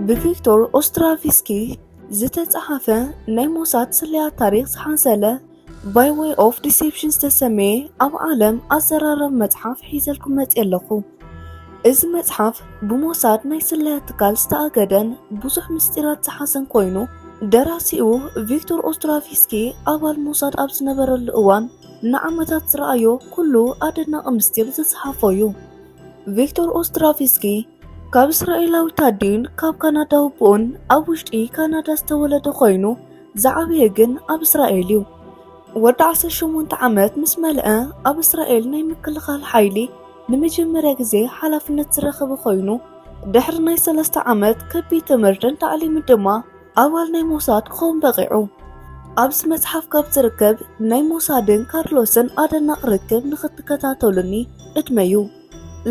ብቪክቶር ኦስትራቪስኪ ዝተጻሓፈ ናይ ሞሳድ ስለያ ታሪክ ዝሓንሰለ ባይ ዌይ ኦፍ ዲሴፕሽን ዝተሰመየ ኣብ ዓለም ኣዘራረብ መጽሓፍ ሒዘልኩም መጽ ኣለኹ። እዚ መጽሓፍ ብሞሳድ ናይ ስለያ ትካል ዝተኣገደን ብዙሕ ምስጢራት ዝሓዘን ኮይኑ ደራሲኡ ቪክቶር ኦስትራቪስኪ ኣባል ሞሳድ ኣብ ዝነበረሉ እዋን ንዓመታት ዝረኣዮ ኩሉ ኣደናቂ ምስጢር ዝጸሓፎ እዩ። ቪክቶር ኦስትራቪስኪ ካብ እስራኤላዊት ኣዲን ካብ ካናዳ ኣቦኡን ኣብ ውሽጢ ካናዳ ዝተወለደ ኮይኑ ዝዓበየ ግን ኣብ እስራኤል እዩ። ወዲ 18 ዓመት ምስ መልአ ኣብ እስራኤል ናይ ምክልኻል ሓይሊ ንመጀመርያ ግዜ ሓላፍነት ዝረኸበ ኮይኑ ድሕሪ ናይ ሰለስተ ዓመት ከቢድ ትምህርትን ታዕሊምን ድማ ኣባል ናይ ሞሳድ ክኸውን በቒዑ። ኣብዚ መጽሓፍ ካብ ዝርከብ ናይ ሞሳድን ካርሎስን ኣደናቕ ርክብ ንኽትከታተሉኒ እድመዩ።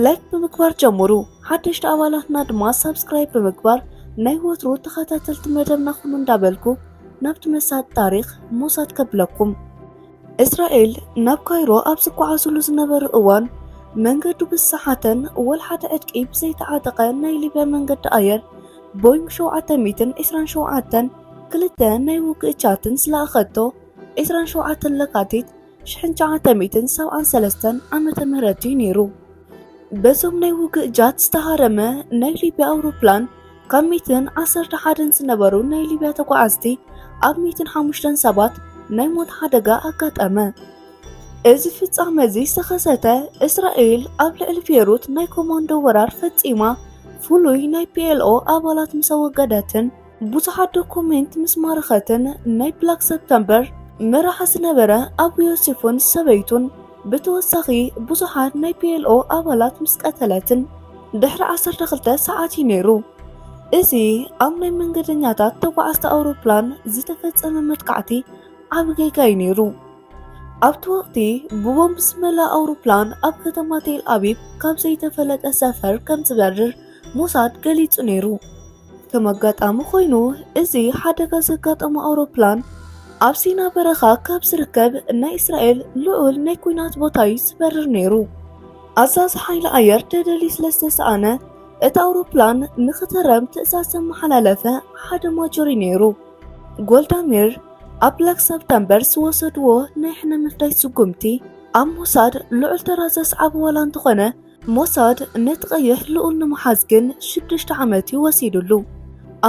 ላይክ ብምግባር ጀምሩ። ሓደሽቲ ኣባላትና ድማ ሳብስክራይብ ብምግባር ናይ ወትሩ ተኸታተልቲ መደብና ኹኑ እንዳበልኩ ናብቲ መሳጢ ታሪኽ ሞሳድ ከብለኩም። እስራኤል ናብ ካይሮ ኣብ ዝጓዓዙሉ ዝነበሩ እዋን መንገዱ ብዝሰሓተን ወልሓደ ዕጥቂ ብዘይተዓጠቐ ናይ ሊብያ መንገዲ ኣየር ቦይንግ ሸውዓተ ሚእትን ዕስራን ሸውዓተን ክልተ ናይ ውግእ ቻትን ዝለኣኸቶ ዕስራን ሸውዓተን ለካቲት ሽሕን ሸውዓተ ሚእትን ሰብዓን ሰለስተን ዓመተ ምህረት እዩ ነይሩ። በዞም ናይ ውግእ ጃት ዝተሃረመ ናይ ሊብያ ኣውሮፕላን ካብ ሚትን ዓሰርተ ሓደን ዝነበሩ ናይ ሊብያ ተጓዓዝቲ ኣብ ሚትን ሓሙሽተን ሰባት ናይ ሞት ሓደጋ ኣጋጠመ። እዚ ፍጻመ እዚ ዝተኸሰተ እስራኤል ኣብ ልዕሊ ቤሩት ናይ ኮማንዶ ወራር ፈጺማ ፍሉይ ናይ ፒኤልኦ ኣባላት ምስ ኣወገደትን ብዙሓት ዶኩሜንት ምስ ማረኸትን ናይ ብላክ ሰፕተምበር መራሒ ዝነበረ ኣቡ ዮሴፍን ሰበይቱን ብተወሳኺ ብዙሓት ናይ ፒኤልኦ ኣባላት ምስ ቀተለትን ድሕሪ ዓሰርተ ክልተ ሰዓት እዩ ነይሩ። እዚ ኣብ ናይ መንገደኛታት ተጓዓዝቲ ኣውሮፕላን ዝተፈጸመ መጥቃዕቲ ዓቢ ጌጋ እዩ ነይሩ። ኣብቲ ወቕቲ ብቦምብ ዝመልኣ ኣውሮፕላን ኣብ ከተማ ቴል ኣቪቭ ካብ ዘይተፈለጠ ሰፈር ከም ዝበርር ሞሳድ ገሊጹ ነይሩ። ከም ኣጋጣሚ ኮይኑ እዚ ሓደጋ ዘጋጠሞ ኣውሮፕላን ኣብ ሲና በረኻ ካብ ዝርከብ ናይ እስራኤል ልዑል ናይ ኩናት ቦታ እዩ ዝበርር ነይሩ። ኣዛዚ ሓይሊ ኣየር ደደሊ ስለ ዝተሰኣነ እቲ ኣውሮፕላን ንኽተረም ትእዛዝ ዘመሓላለፈ ሓደ ማጆሪ ነይሩ። ጎልዳሚር ኣብ ብላክ ሰፕተምበር ዝወሰድዎ ናይ ሕነ ምፍዳይ ስጉምቲ ኣብ ሞሳድ ልዑል ተራ ዘስዓበ ዋላ እንተኾነ ሞሳድ ነቲ ቀይሕ ልኡል ንምሓዝ ግን ሽዱሽተ ዓመት እዩ ወሲዱሉ።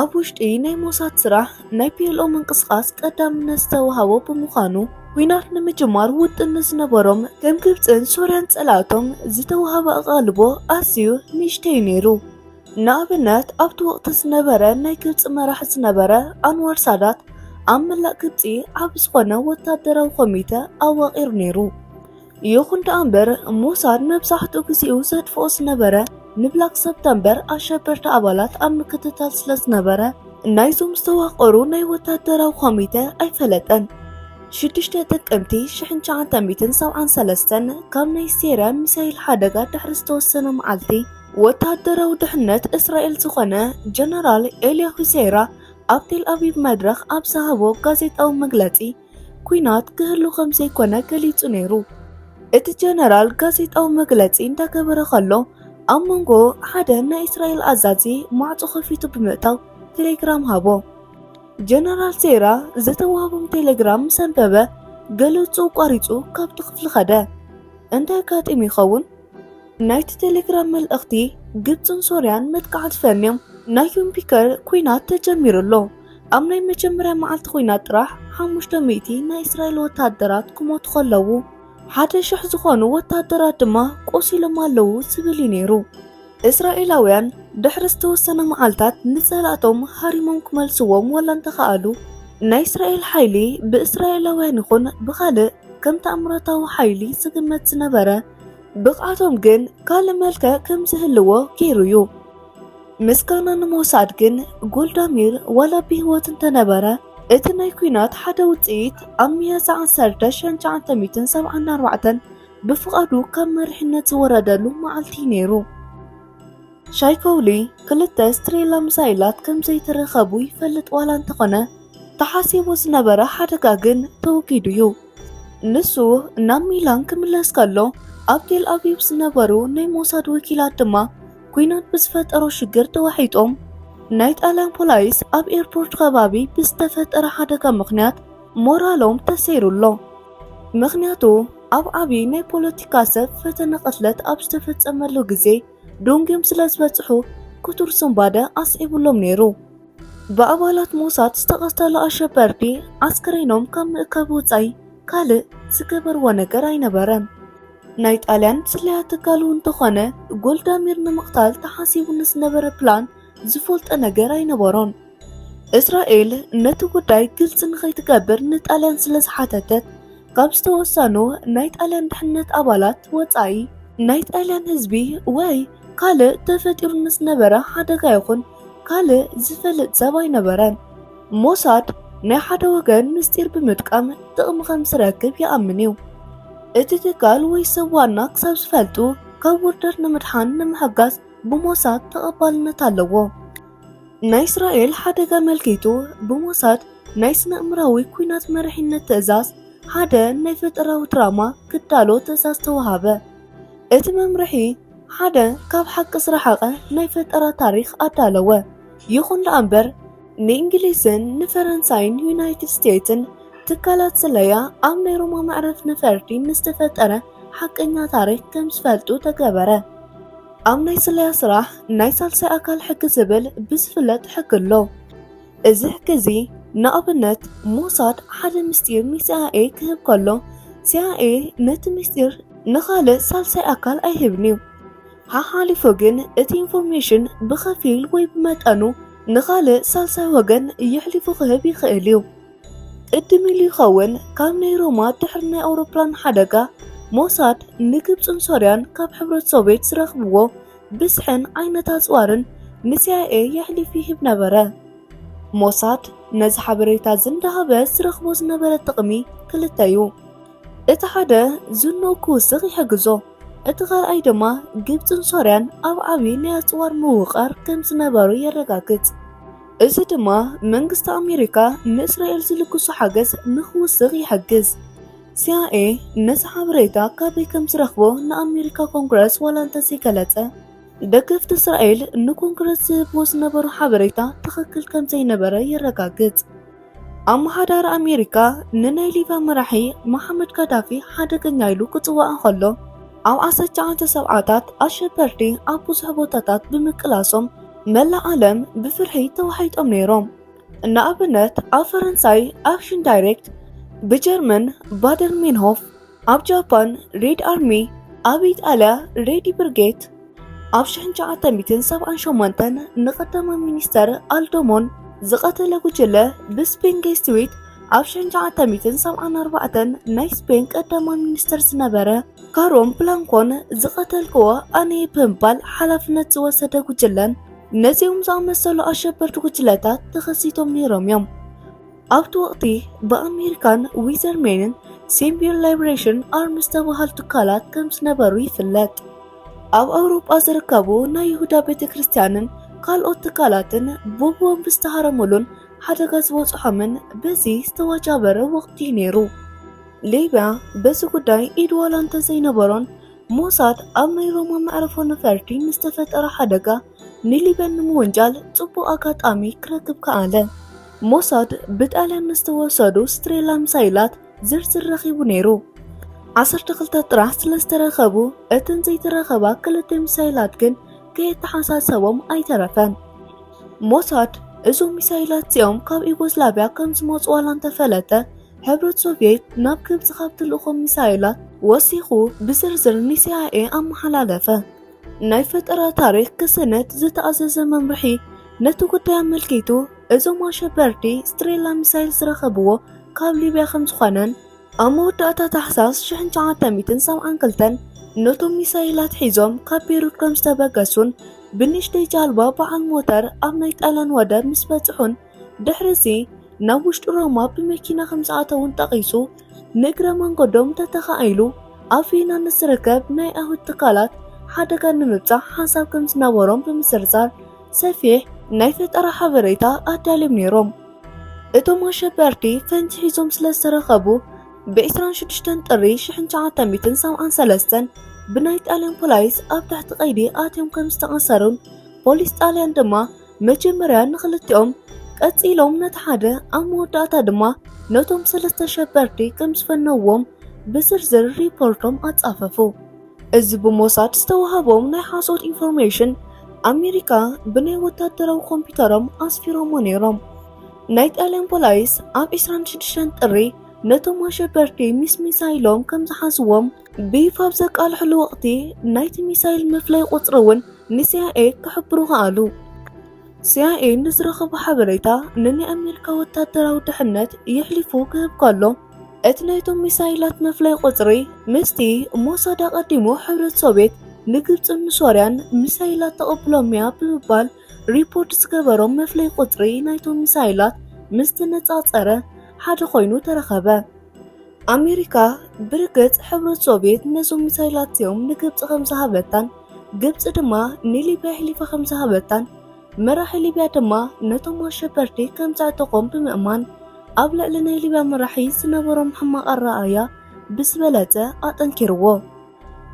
ኣብ ውሽጢ ናይ ሞሳድ ስራሕ ናይ ፒኤልኦ ምንቅስቓስ ቀዳምነት ዝተውሃቦ ብምዃኑ፣ ኲናት ንምጅማር ውጥን ንዝነበሮም ከም ግብጽን ሶርያን ጸላእቶም ዝተውሃበ ኣቓልቦ ኣዝዩ ንእሽተይ እዩ ነይሩ። ንኣብነት ኣብቲ ወቕቲ ዝነበረ ናይ ግብጺ መራሒ ዝነበረ ኣንዋር ሳዳት ኣብ መላእ ግብጺ ዓቢ ዝኾነ ወተሃደራዊ ኮሚተ ኣዋቒሩ ነይሩ። ይኹን ደኣ እምበር ሞሳድ መብዛሕትኡ ግዜኡ ዘጥፍኦ ዝነበረ ንብላክ ሰፕተምበር ኣሸበርቲ ኣባላት ኣብ ምክትታል ስለ ዝነበረ ናይዞም ዝተዋቀሩ ናይ ወታደራዊ ኮሚተ ኣይፈለጠን። ሽዱሽተ ጥቅምቲ ሽሕን ትሽዓተ ሚእትን ሰብዓን ሰለስተን ካብ ናይ ሴርያ ሚሳይል ሓደጋ ድሕሪ ዝተወሰነ መዓልቲ ወታደራዊ ድሕነት እስራኤል ዝኾነ ጀነራል ኤልያሁ ሴራ ኣብ ቴል ኣቪቭ መድረኽ ኣብ ዝሃቦ ጋዜጣዊ መግለጺ ኲናት ክህሉ ከም ዘይኮነ ገሊጹ ነይሩ። እቲ ጀነራል ጋዜጣዊ መግለጺ እንዳገበረ ከሎ ኣብ መንጎ ሓደ ናይ እስራኤል ኣዛዚ ማዕጾ ከፊቱ ብምእታው ቴሌግራም ሃቦ። ጀነራል ሴራ ዝተዋህቦም ቴሌግራም ምስ ኣንበበ ገለጹ ቋሪጹ ካብቲ ክፍሊ ኸደ። እንታይ ኣጋጢሙ ይኸውን? ናይቲ ቴሌግራም መልእኽቲ ግብፅን ሶርያን መጥቃዕቲ ፈንዮም ናይ ዩምፒከር ኲናት ተጀሚሩ ኣሎ። ኣብ ናይ መጀመርያ መዓልቲ ኹናት ጥራሕ ሓሙሽተ ሚእቲ ናይ እስራኤል ወታደራት ክሞቱ ከለዉ ሓደ ሽሕ ዝኾኑ ወታደራት ድማ ቆሲሎም ኣለዉ ዝብል እዩ ነይሩ። እስራኤላውያን ድሕሪ ዝተወሰነ መዓልታት ንጸላእቶም ሃሪሞም ክመልስዎም ወላ እንተኸኣሉ ናይ እስራኤል ሓይሊ ብእስራኤላውያን ይኹን ብኻልእ ከም ተኣምራታዊ ሓይሊ ዝግመት ዝነበረ ብቕዓቶም ግን ካልእ መልክዕ ከም ዝህልዎ ገይሩ እዩ። ምስጋና ንምውሳድ ግን ጎልዳሚር ዋላ ብህይወት እንተነበረ እቲ ናይ ኩናት ሓደ ውፅኢት ኣብ ሚያዝያ 1974 ብፍቓዱ ካብ መሪሕነት ዝወረደሉ መዓልቲ እዩ ነይሩ። ሻይኮውሊ ክልተ ስትሬላ ሚሳይላት ከም ዘይተረኸቡ ይፈልጥ ዋላ እንተኾነ ተሓሲቡ ዝነበረ ሓደጋ ግን ተወጊዱ እዩ። ንሱ ናብ ሚላን ክምለስ ከሎ ኣብ ቴል ኣቪቭ ዝነበሩ ናይ ሞሳድ ወኪላት ድማ ኩናት ብዝፈጠሮ ሽግር ተዋሒጦም ናይ ጣልያን ፖላይስ ኣብ ኤርፖርት ከባቢ ብዝተፈጠረ ሓደጋ ምኽንያት ሞራሎም ተሰይሩ ኣሎ። ምኽንያቱ ኣብ ዓብዪ ናይ ፖለቲካ ሰብ ፈተነ ቅትለት ኣብ ዝተፈጸመሉ ግዜ ዶንግዮም ስለ ዝበጽሑ ክቱር ስንባደ ኣስዒቡሎም ነይሩ። ብኣባላት ሞሳድ ዝተቐተሉ ኣሸበርቲ ኣስከሬኖም ካብ ምእካብ ወጻኢ ካልእ ዝገበርዎ ነገር ኣይነበረን። ናይ ጣልያን ስለያ ትካሉ እንተኾነ ጎልዳሚር ንምቕታል ተሓሲቡ ንዝነበረ ፕላን ዝፈልጦ ነገር ኣይነበሮን። እስራኤል ነቲ ጉዳይ ግልፂ ንኸይትገብር ንጣልያን ስለ ዝሓተተት ካብ ዝተወሰኑ ናይ ጣልያን ድሕነት ኣባላት ወፃኢ ናይ ጣልያን ህዝቢ ወይ ካልእ ተፈጢሩ ንዝነበረ ሓደጋ ይኹን ካልእ ዝፈልጥ ሰብ ኣይነበረን። ሞሳድ ናይ ሓደ ወገን ምስጢር ብምጥቃም ጥቕሚ ከም ዝረክብ ይኣምን እዩ። እቲ ትካል ወይ ሰብ ዋና ክሳብ ዝፈልጡ ካብ ውርደት ንምድሓን ንምሕጋዝ ብሞሳድ ተቐባልነት ኣለዎ። ናይ እስራኤል ሓደጋ ኣመልኪቱ ብሞሳድ ናይ ስነ እምራዊ ኩናት መሪሕነት ትእዛዝ ሓደ ናይ ፈጠራዊ ድራማ ክዳሎ ትእዛዝ ተዋሃበ። እቲ መምርሒ ሓደ ካብ ሓቂ ዝረሓቐ ናይ ፈጠራ ታሪኽ ኣዳለወ። ይኹን ደኣ እምበር ንእንግሊዝን ንፈረንሳይን ዩናይትድ ስቴትስን ትካላት ስለያ ኣብ ናይ ሮማ መዕረፍ ነፈርቲ ምስ ተፈጠረ ሓቀኛ ታሪክ ከም ዝፈልጡ ተገበረ። ኣብ ናይ ስለያ ስራሕ ናይ ሳልሳይ ኣካል ሕጊ ዝብል ብዝፍለጥ ሕጊ ኣሎ። እዚ ሕጊ እዚ ንኣብነት ሞሳድ ሓደ ምስጢር ንሲኣይኤ ክህብ ከሎ ሲኣይኤ ነቲ ምስጢር ንኻልእ ሳልሳይ ኣካል ኣይህብን እዩ። ሓሓሊፉ ግን እቲ ኢንፎርሜሽን ብኸፊል ወይ ብመጠኑ ንኻልእ ሳልሳይ ወገን የሕሊፉ ክህብ ይኽእል እዩ። ቅድም ኢሉ ይኸውን ካብ ናይ ሮማ ድሕሪ ናይ ኣውሮፕላን ሓደጋ ሞሳድ ንግብፅን ሶርያን ካብ ሕብረት ሶቬት ዝረኽብዎ ብዝሕን ዓይነት ኣፅዋርን ንሲኣይኤ የሕሊፍ ይህብ ነበረ። ሞሳድ ነዚ ሓበሬታ እዚ እንዳሃበ ዝረኽቦ ዝነበረ ጥቕሚ ክልተ እዩ። እቲ ሓደ ዝንኡ ክውስኽ ይሕግዞ፣ እቲ ካልኣይ ድማ ግብጽን ሶርያን ኣብ ዓቢ ናይ ኣጽዋር ምውቕቓር ከም ዝነበሩ የረጋግጽ። እዚ ድማ መንግስቲ ኣሜሪካ ንእስራኤል ዝልግሶ ሓገዝ ንኽውስኽ ይሕግዝ። ሲኣይኤ ነዚ ሓበሬታ ካበይ ከም ዝረኽቦ ንኣሜሪካ ኮንግረስ ዋላ እንተዘይገለጸ፣ ደገፍቲ እስራኤል ንኮንግረስ ዝህብዎ ዝነበሩ ሓበሬታ ትኽክል ከም ዘይነበረ የረጋግጽ። ኣመሓዳሪ ኣሜሪካ ንናይ ሊብያ መራሒ መሓመድ ጋዳፊ ሓደገኛ ኢሉ ክጽዋዕ እንከሎ ኣብ ዓሰርተዓተ ሰብዓታት ኣሸበርቲ ኣብ ብዙሕ ቦታታት ብምቅላሶም መላእ ዓለም ብፍርሒ ተዋሒጦም ነይሮም። ንኣብነት ኣብ ፈረንሳይ ኣክሽን ዳይሬክት፣ ብጀርመን ባደር ሚንሆፍ፣ ኣብ ጃፓን ሬድ ኣርሚ፣ ኣብ ኢጣልያ ሬድ ብርጌት፣ ኣብ ሽሕን ትሽዓተ ሚእትን ሰብዓን ሸሞንተን ንቀዳማይ ሚኒስተር ኣልዶሞን ዝቐተለ ጉጅለ ብስፔን ገስቲዊት ኣብ ሽሕን ትሽዓተ ሚእትን ሰብዓን ኣርባዕተን ናይ ስፔን ቀዳማይ ሚኒስተር ዝነበረ ካሮን ብላንኮን ዝቐተልክዎ ኣነየ ብምባል ሓላፍነት ዝወሰደ ጉጅለን ነዚኦም ዝኣመሰሉ ኣሸበርቲ ጉጅለታት ተኸሲቶም ነይሮም እዮም። ኣብቲ ወቕቲ ብኣሜሪካን ዊዘርሜንን ሲምቢል ላይብሬሽን ኣርም ዝተባሃሉ ትካላት ከም ዝነበሩ ይፍለጥ። ኣብ ኣውሮጳ ዝርከቡ ናይ ይሁዳ ቤተ ክርስቲያንን ካልኦት ትካላትን ብቦምብ ዝተሃረሙሉን ሓደጋ ዝበፅሖምን በዚ ዝተዋጃበረ ወቕቲ እዩ ነይሩ። ሊብያ በዚ ጉዳይ ኢድ ዋላ እንተዘይነበሮን ሞሳድ ኣብ ናይ ሮማ መዕርፎ ነፈርቲ ንዝተፈጠረ ሓደጋ ንሊበን ንምውንጃል ጽቡቕ ኣጋጣሚ ክረክብ ከኣለ። ሞሳድ ብጣልያን ንዝተወሰዱ ስትሬላ ሚሳይላት ዝርዝር ረኺቡ ነይሩ። ዓሰርተ ክልተ ጥራሕ ስለ ዝተረኸቡ እተን ዘይተረኸባ ክልተ ሚሳይላት ግን ከየተሓሳሰቦም ኣይተረፈን። ሞሳድ እዞም ሚሳይላት እዚኦም ካብ ዩጎዝላቪያ ከም ዝመጹ ዋላ እንተፈለጠ ሕብረት ሶቪየት ናብ ግብፂ ካብ ትልእኾም ሚሳይላት ወሲኹ ብዝርዝር ንሲኣይኤ ኣመሓላለፈ። ናይ ፈጠራ ታሪኽ ክስነድ ዝተኣዘዘ መምርሒ ነቲ ጉዳይ ኣመልኪቱ እዞም ኣሸበርቲ ስትሬላ ሚሳይል ዝረኸብዎ ካብ ሊብያ ከም ዝኾነን ኣብ መወዳእታ ታሕሳስ 1972 ነቶም ሚሳይላት ሒዞም ካብ ቤሩት ከም ዝተበገሱን ብንእሽተይ ጃልባ በዓል ሞተር ኣብ ናይ ጣልያን ወደብ ምስ በጽሑን ድሕርዚ ናብ ውሽጢ ሮማ ብመኪና ከም ዝኣተውን ጠቒሱ ንእግረ መንገዶም ተተኻኢሉ ኣብ ቬና ንዝርከብ ናይ ኣይሁድ ትካላት ሓደጋ ንምብፃሕ ሓሳብ ከም ዝነበሮም ብምዝርዛር ሰፊሕ ናይ ፈጠራ ሓበሬታ ኣዳልዮም ነይሮም። እቶም ኣሸበርቲ ፈንጂ ሒዞም ስለ ዝተረኸቡ ብ26 ጥሪ 1973 ብናይ ጣልያን ፖላይስ ኣብ ትሕቲ ቀይዲ ኣትዮም ከም ዝተኣሰሩን ፖሊስ ጣልያን ድማ መጀመርያ ንኽልቲኦም ቀጺሎም ነቲ ሓደ ኣብ መወዳእታ ድማ ነቶም ሰለስተ ሸበርቲ ከም ዝፈነዎም ብዝርዝር ሪፖርቶም ኣጻፈፉ። እዚ ብሞሳድ ዝተዋህቦም ናይ ሓሶት ኢንፎርሜሽን ኣሜሪካ ብናይ ወታደራዊ ኮምፒውተሮም ኣስፊሮሞ ነይሮም። ናይ ጣልያን ፖላይስ ኣብ 26 ጥሪ ነቶም ኣሸበርቲ ምስ ሚሳይሎም ከም ዝሓዝዎም ቢፍ ኣብ ዘቃልሕሉ ወቕቲ ናይቲ ሚሳይል መፍለይ ቁጽሪ እውን ንሲኣይኤ ክሕብሩ ከኣሉ። ሲኣይኤ ንዝረኸቦ ሓበሬታ ንናይ ኣሜሪካ ወታደራዊ ድሕነት የሕሊፉ ክህብ ከሎ እቲ ናይቶም ሚሳይላት መፍለይ ቁጽሪ ምስቲ ሞሳድ ኣቐዲሙ ሕብረት ሶቪየት ንግብፅን ንሶርያን ሚሳይላት ተቐብሎምያ ብምባል ሪፖርት ዝገበሮም መፍለይ ቁፅሪ ናይቶም ሚሳይላት ምስ ተነፃፀረ ሓደ ኮይኑ ተረኸበ። ኣሜሪካ ብርግጽ ሕብረት ሶቪየት ነዞም ሚሳይላት እዚኦም ንግብፂ ከም ዝሃበታን ግብፂ ድማ ንሊብያ ኣሕሊፋ ከም ዝሃበታን መራሒ ሊብያ ድማ ነቶም ኣሸበርቲ ከም ዘዕጠቖም ብምእማን ኣብ ልዕሊ ናይ ሊብያ መራሒ ዝነበሮም ሕማቕ ኣረኣእያ ብዝበለፀ ኣጠንኪርዎ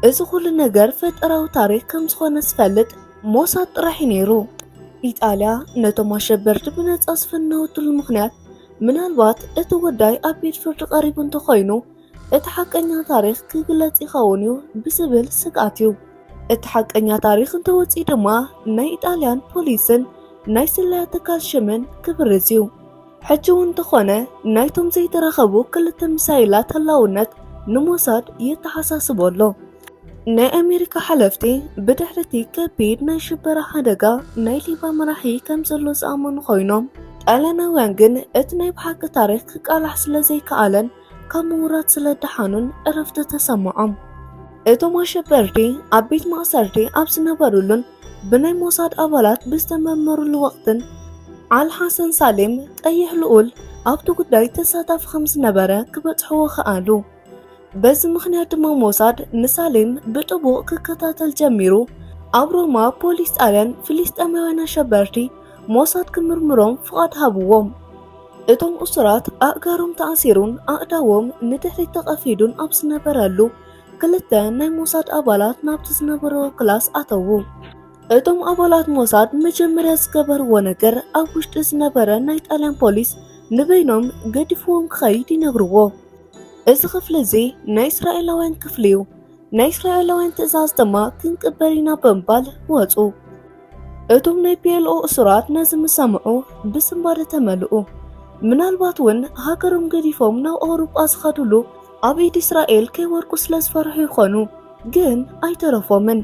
እዚ ኩሉ ነገር ፈጠራዊ ታሪክ ከም ዝኾነ ዝፈልጥ ሞሳድ ጥራሕ እዩ ነይሩ ኢጣልያ ነቶም ኣሸበርቲ ብነፃ ዝፈነወትሉ ምክንያት ምናልባት እቲ ጉዳይ ኣብ ቤት ፍርዲ ቀሪቡ እንተኾይኑ እቲ ሓቀኛ ታሪኽ ክግለጽ ይኸውን እዩ ብዝብል ስግኣት እዩ። እቲ ሓቀኛ ታሪኽ እንተወጺኡ ድማ ናይ ኢጣልያን ፖሊስን ናይ ስለያ ትካል ሽምን ክብርዝ እዩ። ሕጂ እውን እንተኾነ ናይቶም ዘይተረኸቡ ክልተ ሚሳይላት ህላውነት ንሞሳድ የተሓሳስቦ ኣሎ። ናይ ኣሜሪካ ሓለፍቲ ብድሕሪ እቲ ከቢድ ናይ ሽበራ ሓደጋ ናይ ሊባ መራሒ ከም ዘሎ ዝኣመኑ ኮይኖም ጣልያናውያን ግን እቲ ናይ ብሓቂ ታሪክ ክቃላሕ ስለ ዘይከኣለን ካብ ምውራድ ስለ ደሓኑን ዕረፍቲ ተሰምዖም እቶም ኣሸበርቲ ኣብ ቤት ማእሰርቲ ኣብ ዝነበሩሉን ብናይ ሞሳድ ኣባላት ብዝተመርመሩሉ ወቅትን ኣልሓሰን ሳሌም ቀይሕ ልኡል ኣብቲ ጉዳይ ተሳታፊ ከም ዝነበረ ክበጽሕዎ ከኣሉ በዚ ምኽንያት ድማ ሞሳድ ንሳሌም ብጥቡቕ ክከታተል ጀሚሩ። ኣብ ሮማ ፖሊስ ጣልያን ፍልስጤማውያን ኣሸበርቲ ሞሳድ ክምርምሮም ፍቓድ ሃብዎም። እቶም እሱራት ኣእጋሮም ተኣሲሩን ኣእዳዎም ንድሕሪት ተቐፊዱን ኣብ ዝነበረሉ ክልተ ናይ ሞሳድ ኣባላት ናብቲ ዝነበረዎ ክላስ ኣተዉ። እቶም ኣባላት ሞሳድ መጀመርያ ዝገበርዎ ነገር ኣብ ውሽጢ ዝነበረ ናይ ጣልያን ፖሊስ ንበይኖም ገዲፍዎም ክኸይድ ይነግርዎ። እዚ ክፍሊ እዚ ናይ እስራኤላውያን ክፍሊ እዩ፣ ናይ እስራኤላውያን ትእዛዝ ድማ ክንቅበል ኢና ብምባል ወጹ። እቶም ናይ ፒኤልኦ እሱራት ነዚ ምስ ሰምዑ ብስንባደ ተመልኡ። ምናልባት እውን ሃገሮም ገዲፎም ናብ ኣውሮጳ ዝኸድሉ ኣብ ኢድ እስራኤል ከይወርቁ ስለ ዝፈርሑ ይኾኑ፣ ግን ኣይተረፎምን።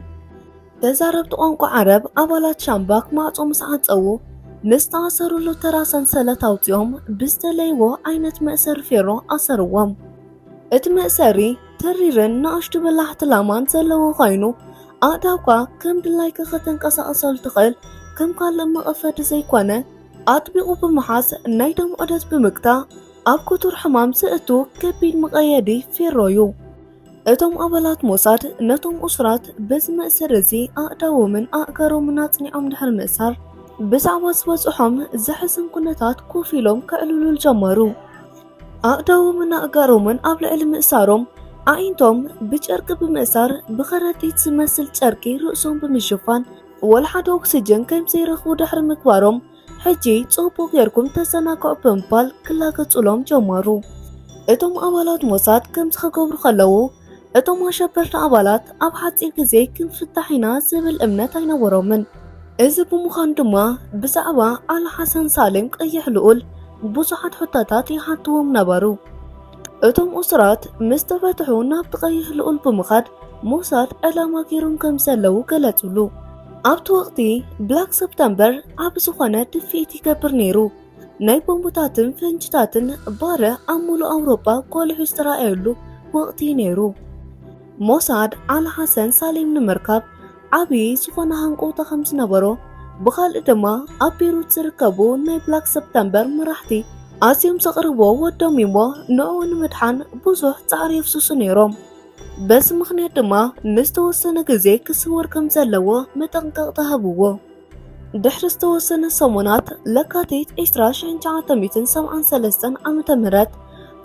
ተዛረብቲ ቋንቋ ዓረብ ኣባላት ሻምባክ ማዕጾ ምስ ዓጸዉ ምስ ዝተኣሰሩሉ ተራ ሰንሰለት ኣውጺኦም ብዝተለይዎ ዓይነት መእሰሪ ፌሮ ኣሰርዎም። እቲ መእሰሪ ተሪርን ንኣሽቱ በላሕቲ ላማን ዘለዎ ኮይኑ ኣእዳውካ ከም ድላይካ ከተንቀሳቕሰሉ ትኽእል ከም ካልእ መቐፈዲ ዘይኮነ ኣጥቢቑ ብምሓዝ ናይ ደም ዑደት ብምግታእ ኣብ ክቱር ሕማም ዘእቱ ከቢድ መቐየዲ ፌሮ'ዩ። እቶም ኣባላት ሞሳድ ነቶም እሱራት በዚ መእሰሪ እዚ ኣእዳዎምን ኣእጋሮምን ኣጽኒዖም ድሕሪ ምእሳር ብዛዕባ ዝበጽሖም ዘሕዝን ኩነታት ኮፍ ኢሎም ከዕልሉል ጀመሩ። ኣእዳዎምን ኣእጋሮምን ኣብ ልዕሊ ምእሳሮም ኣዒንቶም ብጨርቂ ብምእሳር ብኸረጢት ዝመስል ጨርቂ ርእሶም ብምሽፋን ወልሓደ ኦክስጅን ከም ዘይረኽቡ ድሕሪ ምግባሮም ሕጂ ጽቡቕ ጌርኩም ተሰናክዑ ብምባል ክላገጹሎም ጀመሩ። እቶም ኣባላት ሞሳድ ከምዚ ክገብሩ ከለዉ እቶም ኣሸበርቲ ኣባላት ኣብ ሓጺር ግዜ ክንፍታሕ ኢና ዝብል እምነት ኣይነበሮምን። እዚ ብምዃኑ ድማ ብዛዕባ ኣል ሓሰን ሳልም ቀይሕ ልኡል ብዙሓት ሕቶታት ይሓትዎም ነበሩ። እቶም እሱራት ምስ ተፈትሑ ናብቲ ቀይሕ ልኡል ብምኻድ ሞሳድ ዕላማ ገይሮም ከም ዘለዉ ገለጹሉ። ኣብቲ ወቕቲ ብላክ ሰፕተምበር ኣብ ዝኾነ ድፍኢት ይገብር ነይሩ። ናይ ቦምቡታትን ፈንጅታትን ባረ ኣብ ሙሉእ ኣውሮጳ ጎሊሑ ዝተረኣየሉ ወቕቲ እዩ ነይሩ። ሞሳድ ኣል ሓሰን ሳሌም ንምርካብ ዓብዪ ዝኾነ ሃንቆውታ ከም ዝነበሮ ብኻልእ ድማ ኣብ ቤሩት ዝርከቡ ናይ ብላክ ሰፕተምበር መራሕቲ ኣዝዮም ዘቕርቦ ወዶም እሞ ንዕኡ ንምድሓን ብዙሕ ፃዕሪ የፍስሱ ነይሮም። በዚ ምኽንያት ድማ ንዝተወሰነ ግዜ ክስወር ከም ዘለዎ መጠንቀቕታ ሃብዎ። ድሕሪ ዝተወሰነ ሰሙናት፣ ለካቲት 20973 ዓ.ም፣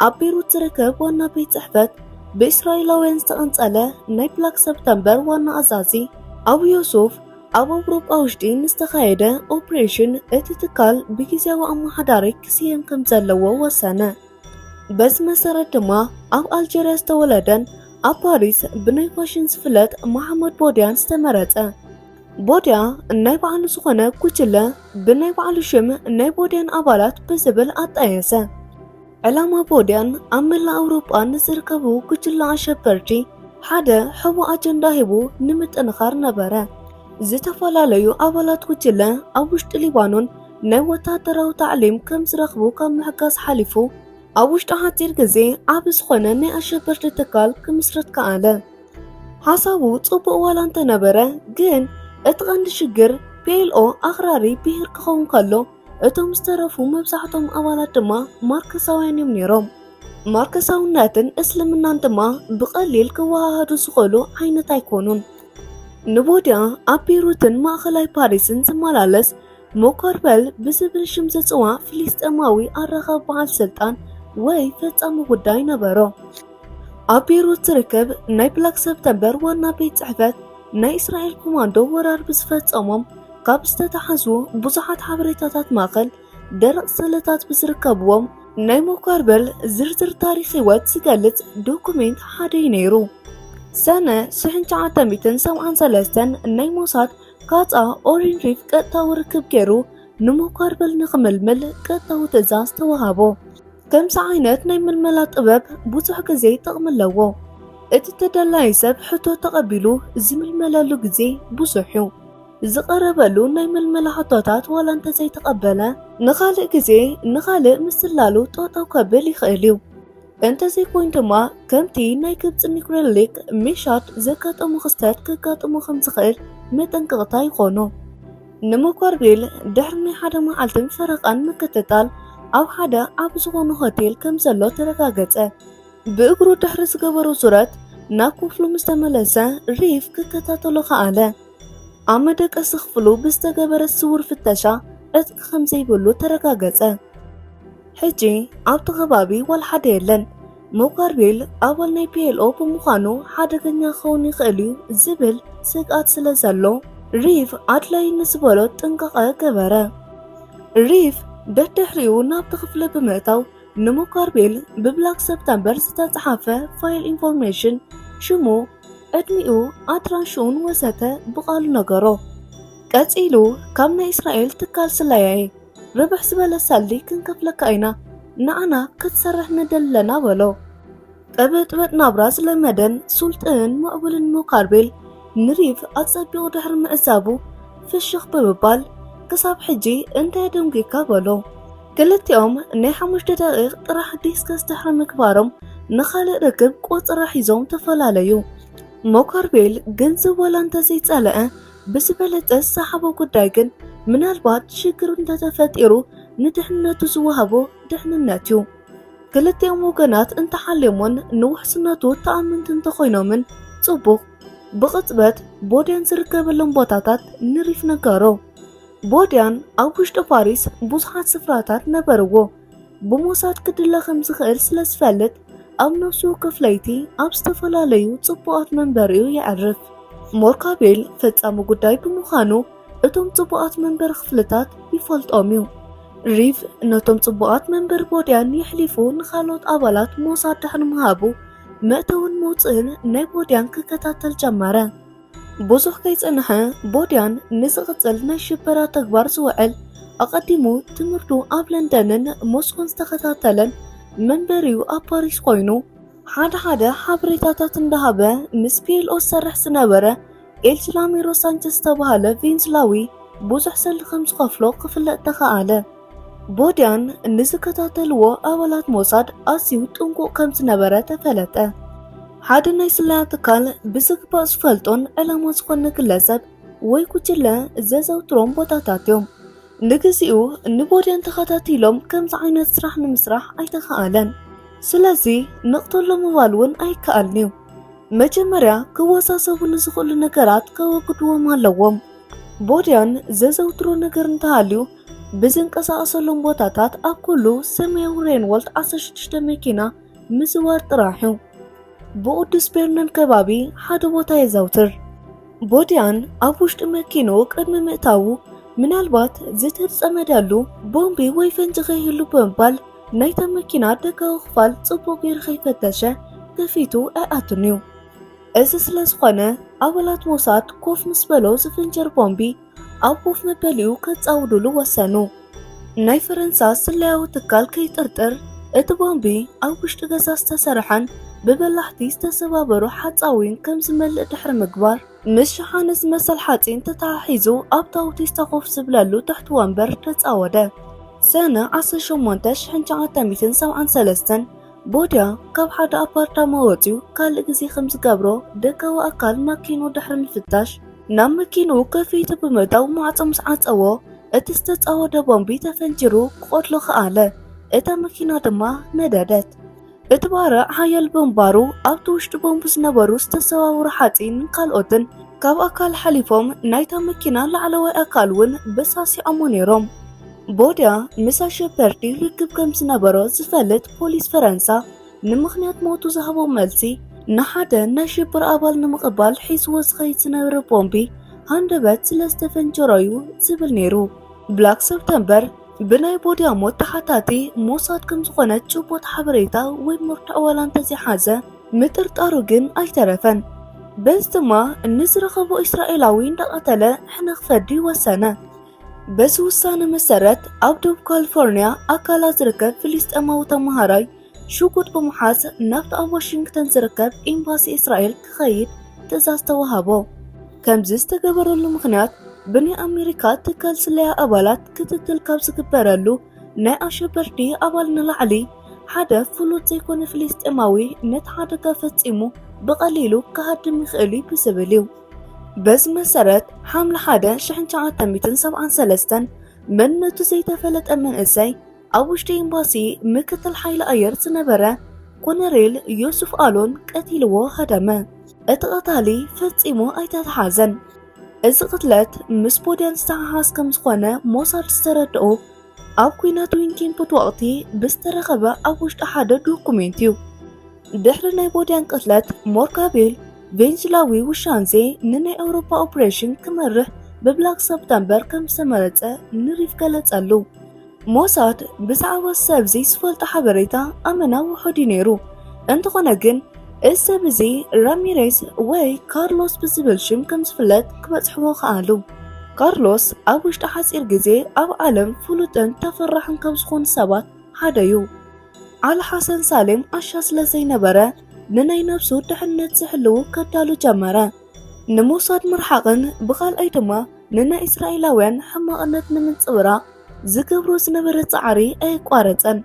ኣብ ቤሩት ዝርከብ ዋና ቤት ጽሕፈት ብእስራኤላውያን ዝተቐንጸለ ናይ ብላክ ሰፕተምበር ዋና ኣዛዚ ኣቡ ዮሱፍ ኣብ ኣውሮጳ ውሽጢ ንዝተኻየደ ኦፕሬሽን እቲ ትካል ብግዜያዊ ኣመሓዳሪ ክስየም ከም ዘለዎ ወሰነ። በዚ መሰረት ድማ ኣብ ኣልጀርያ ዝተወለደን ኣብ ፓሪስ ብናይ ፋሽን ዝፍለጥ መሓመድ ቦድያን ዝተመረጸ ቦድያ ናይ ባዕሉ ዝኾነ ጉጅለ ብናይ ባዕሉ ሽም ናይ ቦድያን ኣባላት ብዝብል ኣጣየሰ። ዕላማ ቦድያን ኣብ መላእ ኣውሮጳ ንዝርከቡ ጉጅለ ኣሸበርቲ ሓደ ሕቡ ኣጀንዳ ሂቡ ንምጥንኻር ነበረ። ዝተፈላለዩ ኣባላት ጉጅለ ኣብ ውሽጢ ሊባኖን ናይ ወታደራዊ ታዕሊም ከም ዝረኽቡ ካብ ምሕጋዝ ሓሊፉ ኣብ ውሽጢ ሓፂር ግዜ ዓብ ዝኾነ ናይ ኣሸበርቲ ትካል ክምስርት ከኣለ። ሓሳቡ ጽቡቕ ዋላ እንተነበረ ግን እቲ ቐንዲ ሽግር ፒኤልኦ ኣኽራሪ ብሄር ክኸውን ከሎ እቶም ዝተረፉ መብዛሕቶም ኣባላት ድማ ማርክሳውያን እዮም ነይሮም። ማርክሳውነትን እስልምናን ድማ ብቐሊል ክወሃሃዱ ዝኽእሉ ዓይነት ኣይኮኑን። ንቦድያ ኣብ ቤሩትን ማእኸላይ ፓሪስን ዝመላለስ ሞኮርበል ብዝብል ሽም ዝጽዋዕ ፍልስጤማዊ ኣራኻብ በዓል ስልጣን ወይ ፈጻሚ ጉዳይ ነበሮ። ኣብ ቤይሩት ዝርከብ ናይ ብላክ ሰፕተምበር ዋና ቤት ጽሕፈት ናይ እስራኤል ኮማንዶ ወራር ብዝፈጸሞም ካብ ዝተታሓዙ ብዙሓት ሓበሬታታት ማእከል ደረቕ ሰለታት ብዝርከብዎም ናይ ሞካርበል ዝርዝር ታሪክ ህይወት ዝገልጽ ዶኩሜንት ሓደ እዩ ነይሩ። ሰነ ሽሕን ሸዓተ ሚእትን ሰብዓን ሰለስተን ናይ ሞሳድ ካፃ ኦሪን ሪፍ ቀጥታዊ ርክብ ገይሩ ንሞካርበል ንክምልምል ቀጥታዊ ትእዛዝ ተዋሃቦ። ከምዚ ዓይነት ናይ ምልመላ ጥበብ ብዙሕ ግዜ ጥቕሚ ኣለዎ። እቲ ተደላዪ ሰብ ሕቶ ተቐቢሉ ዝምልመለሉ ግዜ ብዙሕ እዩ። ዝቐረበሉ ናይ ምልመላ ሕቶታት ዋላ እንተዘይተቐበለ ንኻልእ ግዜ ንኻልእ ምስላሉ ጠጠው ከብል ይኽእል እዩ። እንተዘይኮይኑ ድማ ከምቲ ናይ ግብፂ ኒኩሌር ሊክ ሚሻድ ዘጋጠሙ ክስተት ከጋጥሙ ከም ዝኽእል መጠንቀቕታ ይኾኑ። ንመኳርቤል ድሕሪ ናይ ሓደ መዓልትን ፈረቓን ምክትታል ኣብ ሓደ ኣብ ዝኾነ ሆቴል ከም ዘሎ ተረጋገፀ። ብእግሩ ድሕሪ ዝገበሮ ዙረት ናብ ክፍሉ ምስ ተመለሰ ሪፍ ክከታተሎ ከኣለ። ኣብ መደቀሲ ክፍሉ ብዝተገበረ ስውር ፍተሻ ዕጥቂ ከም ዘይብሉ ተረጋገፀ። ሕጂ ኣብቲ ከባቢ ዋላ ሓደ የለን። ሙከርቢል ኣባል ናይ ፒኤልኦ ብምዃኑ ሓደገኛ ክኸውን ይኽእል እዩ ዝብል ስግኣት ስለ ዘሎ ሪቭ ኣድላዪ ንዝበሎ ጥንቃቐ ገበረ። ሪቭ ደድሕሪኡ ናብቲ ክፍሊ ብምእታው ንሙከርቢል ብብላክ ሰፕተምበር ዝተጽሓፈ ፋይል ኢንፎርሜሽን ሽሙ ዕድሚኡ ኣድራሽኡን ወዘተ ብቓሉ ነገሮ። ቀጺሉ ካብ ናይ እስራኤል ትካል ስለያ'የ ርብሕ ዝበለ ሰልዲ ክንከፍለካ ኢና ንዓና ክትሰርሕ ንደሊ ኣለና በሎ። ቅብጥብጥ ናብራ ዝለመደን ሱልጥንን ምዕቡልን ሞካርቤል ንሪቭ ኣጸቢቑ ድሕሪ ምዕዛቡ ፍሽኽ ብምባል ክሳብ ሕጂ እንታይ ደንጒካ በሎ። ክልቲኦም ናይ ሓሙሽተ ደቒቕ ጥራሕ ዲስከስ ድሕሪ ምግባሮም ንኻልእ ርክብ ቆጸራ ሒዞም ተፈላለዩ። ሞካርቤል ግንዝብ ወላ እንተዘይጸለኣ ብዝበለፀ ዝሰሓቦ ጉዳይ ግን ምናልባት ሽግር እንተተፈጢሩ ንድሕንነቱ ዝወሃቦ ድሕንነት ዩ። ክልቲኦም ወገናት እንተሓልዮሞን ንውሕስነቱ ተኣመንቲ እንተኾይኖምን ፅቡቕ። ብቕፅበት ቦድያን ዝርከበሎም ቦታታት ንሪፍ ነገሮ። ቦድያን ኣብ ውሽጢ ፓሪስ ብዙሓት ስፍራታት ነበርዎ። ብሞሳድ ክድለ ከም ዝኽእል ስለ ዝፈልጥ ኣብ ነፍሲ ወከፍ ለይቲ ኣብ ዝተፈላለዩ ጽቡቓት መንበሪኡ የዕርፍ። ሞርካቤል ፈጻሚ ጉዳይ ብምዃኑ እቶም ጽቡቓት መንበሪ ክፍልታት ይፈልጦም እዩ። ሪቭ ነቶም ጽቡቓት መንበሪ ቦድያን የሕሊፉ ንኻልኦት ኣባላት ሞሳድ ድሕሪ ምሃቡ መእተውን መውጽእን ናይ ቦድያን ክከታተል ጀመረ። ብዙሕ ከይጸንሐ ቦድያን ንዝቕጽል ናይ ሽበራ ተግባር ዝውዕል ኣቐዲሙ ትምህርቱ ኣብ ለንደንን ሞስኮን ዝተኸታተለን መንበሪኡ ኣብ ፓሪስ ኮይኑ ሓደ ሓደ ሓበሬታታት እንዳሃበ ምስ ፒኤልኦ ዝሰርሕ ዝነበረ ኤልስላሚሮ ሳንቸስ ዝተባሃለ ቬንዝላዊ ብዙሕ ሰሊ ከም ዝኸፍሎ ክፍለጥ ተኸኣለ። ቦድያን ንዝከታተልዎ ኣባላት ሞሳድ ኣዝዩ ጥንቁቕ ከም ዝነበረ ተፈለጠ። ሓደ ናይ ስለያ ትካል ብዝግባእ ዝፈልጦን ዕላማ ዝኾነ ግለሰብ ወይ ጉጅለ ዘዘውትሮም ቦታታት እዮም። ንግዚኡ ንቦድያን ተኸታቲሎም ከምዚ ዓይነት ስራሕ ንምስራሕ ኣይተኸኣለን። ስለዚ ንቕተሎ ምባል እውን ኣይከኣልን እዩ። መጀመርያ ክወሳሰብሉ ዝኽእሉ ነገራት ከወግድዎም ኣለዎም። ቦድያን ዘዘውትሮ ነገር እንተሃልዩ ብዝንቀሳቐሰሎም ቦታታት ኣብ ኩሉ ሰማያዊ ሬንወልት ዓሰርተ ሽዱሽተ መኪና ምዝዋር ጥራሕ እዩ። ብቕዱስ ቤርነን ከባቢ ሓደ ቦታ የዛውትር። ቦዲያን ኣብ ውሽጢ መኪኑ ቅድሚ ምእታዉ ምናልባት ዝተጸመደሉ ቦምቢ ወይ ፈንጂ ከይህሉ ብምባል ናይታ መኪና ደጋዊ ክፋል ጽቡቕ ገይሩ ከይፈተሸ ከፊቱ ኣይኣቱን እዩ። እዚ ስለ ዝኾነ ኣባላት ሞሳድ ኮፍ ምስ በሎ ዝፍንጀር ቦምቢ ኣብ ኮፍ መበሊኡ ከጻውዱሉ ወሰኑ። ናይ ፈረንሳ ስለያዊ ትካል ከይጥርጥር እቲ ቦምቢ ኣብ ውሽጢ ገዛ ዝተሰርሐን ብበላሕቲ ዝተሰባበሩ ሓጻዊን ከም ዝመልእ ድሕሪ ምግባር ምስ ሸሓነ ዝመሰል ሓጺን ተተሓሒዙ ኣብ ታውቲስ ተኾፍ ዝብለሉ ትሕቲ ወንበር ተጻወደ። ሰነ 18 1973 ቦድያ ካብ ሓደ ኣፓርታማ ወጺኡ ካልእ ግዜ ከም ዝገብሮ ደጋዊ ኣካል ማኪንኡ ድሕሪ ምፍታሽ ናብ መኪንኡ ከፊቱ ብምእታው ማዕጾ ምስ ዓጸዎ እቲ ዝተጻወደ ቦምቢ ተፈንጂሩ ክቐትሎ ከኣለ። እታ መኪና ድማ ነደደት። እቲ ባርዕ ሓያል ብምንባሩ ኣብቲ ውሽጢ ቦምቢ ዝነበሩ ዝተሰባበሩ ሓጺንን ካልኦትን ካብ ኣካል ሓሊፎም ናይታ መኪና ላዕለዋይ ኣካል እውን በሳሲዖሞ ነይሮም። ቦድያ ምስ ኣሸበርቲ ርክብ ከም ዝነበሮ ዝፈልጥ ፖሊስ ፈረንሳ ንምኽንያት ሞቱ ዝሃቦ መልሲ ንሓደ ናይ ሽብር ኣባል ንምቕባል ሒዝዎ ዝኸይድ ዝነበረ ቦምቢ ሃንደበት ስለ ዝተፈንጀሮ እዩ ዝብል ነይሩ። ብላክ ሰፕተምበር ብናይ ቦድያ ሞት ተሓታቲ ሞሳድ ከም ዝኾነ ጭቡጥ ሓበሬታ ወይ መርትዖ ዋላ እንተዘይሓዘ ምጥርጣሩ ግን ኣይተረፈን። በዚ ድማ ንዝረኸቦ እስራኤላዊ እንዳቐተለ ሕነ ክፈዲ ወሰነ። በዚ ውሳነ መሰረት ኣብ ደቡብ ካሊፎርኒያ ኣካላ ዝርከብ ፍልስጤማዊ ተመሃራይ ሽጉጥ ብምሓዝ ናብቲ ኣብ ዋሽንግተን ዝርከብ ኤምባሲ እስራኤል ክኸይድ ትእዛዝ ተዋሃቦ። ከምዚ ዝተገበረሉ ምኽንያት ብናይ ኣሜሪካ ትካል ስለያ ኣባላት ክትትል ካብ ዝግበረሉ ናይ ኣሸበርቲ ኣባል ንላዕሊ ሓደ ፍሉጥ ዘይኮነ ፍልስጤማዊ ነቲ ሓደጋ ፈጺሙ ብቐሊሉ ክሃድም ይኽእል እዩ ብዝብል እዩ። በዚ መሰረት ሓምለ 1 1973 መንነቱ ዘይተፈለጠ መንእሰይ ኣብ ውሽጢ ኤምባሲ ምክትል ሓይሊ ኣየር ዝነበረ ኮነሬል ዮሱፍ ኣሎን ቀቲልዎ ሃደመ። እቲ ቀታሊ ፈጺሙ ኣይተተሓዘን። እዚ ቅትለት ምስ ቦደን ዝተሓሓዝ ከም ዝኾነ ሞሳድ ዝተረድኡ ኣብ ኩናት ዊንኪምፑት ወቕቲ ብዝተረኸበ ኣብ ውሽጢ ሓደ ዶኩሜንት እዩ። ድሕሪ ናይ ቦድያን ቅትለት ሞርካቤል ቬንዙላዊ ውሻንዜ ንናይ ኣውሮፓ ኦፕሬሽን ክመርሕ ብብላክ ሰፕተምበር ከም ዝተመረጸ ንሪፍ ገለጸሉ። ሞሳድ ብዛዕባ ሰብ እዚ ዝፈልጦ ሓበሬታ ኣመና ውሑድ እዩ ነይሩ። እንተኾነ ግን እዚ ሰብ እዚ ራሚሬዝ ወይ ካርሎስ ብዝብል ሽም ከም ዝፍለጥ ክበጽሕዎ ከኣሉ። ካርሎስ ኣብ ውሽጢ ሓፂር ግዜ ኣብ ዓለም ፍሉጥን ተፈራሕን ካብ ዝኾኑ ሰባት ሓደ እዩ። ዓል ሓሰን ሳሌም ኣሻ ስለ ዘይነበረ ንናይ ነብሱ ድሕነት ዝሕልው ከዳሉ ጀመረ። ንሞሳድ ምርሓቕን ብኻልኣይ ድማ ንናይ እስራኤላውያን ሕማቕነት ንምንጽብራቕ ዝገብሮ ዝነበረ ጻዕሪ ኣየቋረጸን።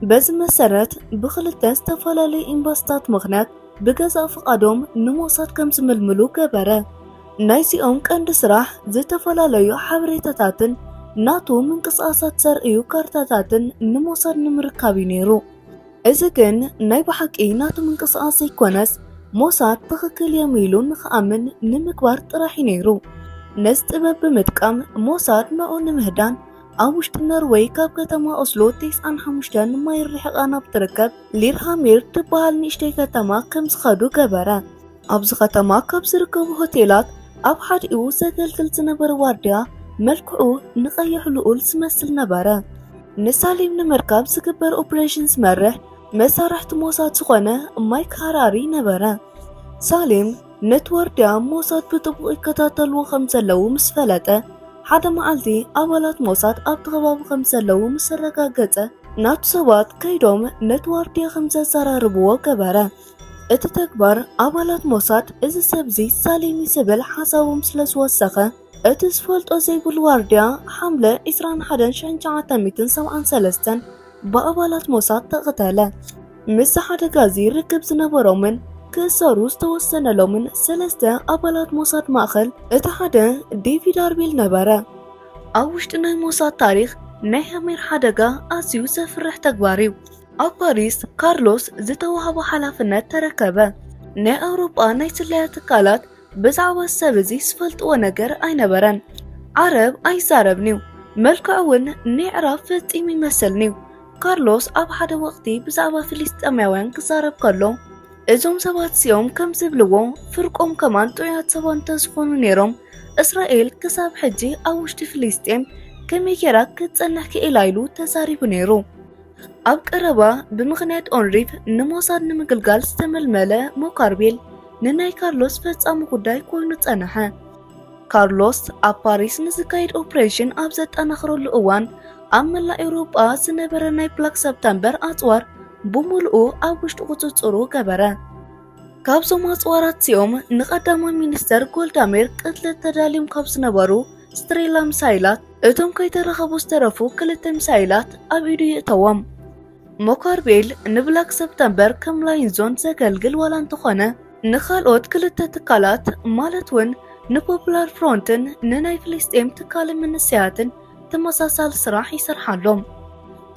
በዚ መሰረት ብኽልተ ዝተፈላለዩ ኤምባሲታት ምኽንያት ብገዛእ ፍቓዶም ንሞሳድ ከም ዝምልምሉ ገበረ። ናይዚኦም ቀንዲ ስራሕ ዝተፈላለዩ ሓበሬታታትን ናቱ ምንቅስቓሳት ዘርእዩ ካርታታትን ንሞሳድ ንምርካብ እዩ ነይሩ። እዚ ግን ናይ ብሓቂ ናቱ ምንቅስቓስ ዘይኮነስ ሞሳድ ትኽክል እዮም ኢሉ ንክኣምን ንምግባር ጥራሕ እዩ ነይሩ። ነዚ ጥበብ ብምጥቃም ሞሳድ ንኡ ንምህዳን ኣብ ውሽጢ ኖርወይ ካብ ከተማ ኦስሎ ቴስዓን ሓሙሽተን ማይል ርሒቓ ናብ ትርከብ ሊርሃሜር ትበሃል ንእሽተይ ከተማ ከም ዝኸዱ ገበረ። ኣብዚ ከተማ ካብ ዝርከቡ ሆቴላት ኣብ ሓዲኡ ዘገልግል ዝነበረ ዋርድያ መልክዑ ንቐይሕ ልኡል ዝመስል ነበረ። ንሳሌም ንምርካብ ዝግበር ኦፕሬሽን ዝመርሕ መሳርሕቲ ሞሳድ ዝኾነ ማይክ ሃራሪ ነበረ። ሳሌም ነቲ ዋርድያ ሞሳድ ብጥቡቕ ይከታተልዎ ከም ዘለዉ ምስ ፈለጠ፣ ሓደ መዓልቲ ኣባላት ሞሳድ ኣብቲ ከባቢ ከም ዘለዉ ምስ ኣረጋገጸ፣ ናቱ ሰባት ከይዶም ነቲ ዋርድያ ከም ዘዘራርብዎ ገበረ። እቲ ተግባር ኣባላት ሞሳድ እዚ ሰብ'ዚ ሳሌሚ ዝብል ሓሳቦም ስለ ዝወሰኸ፣ እቲ ዝፈልጦ ዘይብሉ ዋርድያ ሓምለ ዕስራን ሓደን ሽሕን ትሽዓተ ሚእትን ሰብዓን ሰለስተን ብኣባላት ሞሳድ ተቐተለ። ምስ ሓደጋ እዚ ርክብ ዝነበሮምን ክእሰሩ ዝተወሰነሎምን ሰለስተ ኣባላት ሞሳድ ማእኸል እቲ ሓደ ዴቪድ ኣርቤል ነበረ። ኣብ ውሽጢ ናይ ሞሳድ ታሪኽ ናይ ሐሜር ሓደጋ ኣዝዩ ዘፍርሕ ተግባር እዩ። ኣብ ፓሪስ ካርሎስ ዝተዋህቦ ሓላፍነት ተረከበ። ናይ ኣውሮጳ ናይ ስለያ ትካላት ብዛዕባ እዚ ሰብ እዚ ዝፈልጥዎ ነገር ኣይነበረን። ዓረብ ኣይዛረብን'ዩ፣ መልክዑ እውን ንይዕራብ ፈጺሙ ይመስልን'ዩ። ካርሎስ ኣብ ሓደ ወቕቲ ብዛዕባ ፍልስጤማውያን ክዛረብ ከሎ እዞም ሰባት እዚኦም ከም ዝብልዎ ፍርቆም ከማን ጥዑያት ሰባት እንተዝኾኑ ነይሮም እስራኤል ክሳብ ሕጂ ኣብ ውሽጢ ፍልስጤም ከመይ ጌራ ክትጸንሕ ክኢላ ኢሉ ተዛሪቡ ነይሩ። ኣብ ቀረባ ብምኽንያት ኦንሪፍ ንሞሳድ ንምግልጋል ዝተመልመለ ሞካርቤል ንናይ ካርሎስ ፈጻሚ ጉዳይ ኮይኑ ጸንሐ። ካርሎስ ኣብ ፓሪስ ንዝካየድ ኦፕሬሽን ኣብ ዘጠናኽረሉ እዋን ኣብ መላእ ኤውሮጳ ዝነበረ ናይ ብላክ ሰፕተምበር ኣጽዋር ብምልኡ ኣብ ውሽጢ ቁጽጽሩ ገበረ ካብዞም ኣጽዋራት እዚኦም ንቐዳማይ ሚኒስተር ጎልዳሜር ቅትለት ተዳልዮም ካብ ዝነበሩ ስትሬላ ሚሳይላት እቶም ከይተረኸቡ ዝተረፉ ክልተ ሚሳይላት ኣብ ኢዱ ይእተዎም ሞካርቤል ንብላክ ሰፕተምበር ከም ላይንዞን ዘገልግል ዋላ እንተኾነ ንኻልኦት ክልተ ትካላት ማለት እውን ንፖፑላር ፍሮንትን ንናይ ፍልስጤም ትካል መንሰያትን ተመሳሳሊ ስራሕ ይሰርሓ ኣሎ።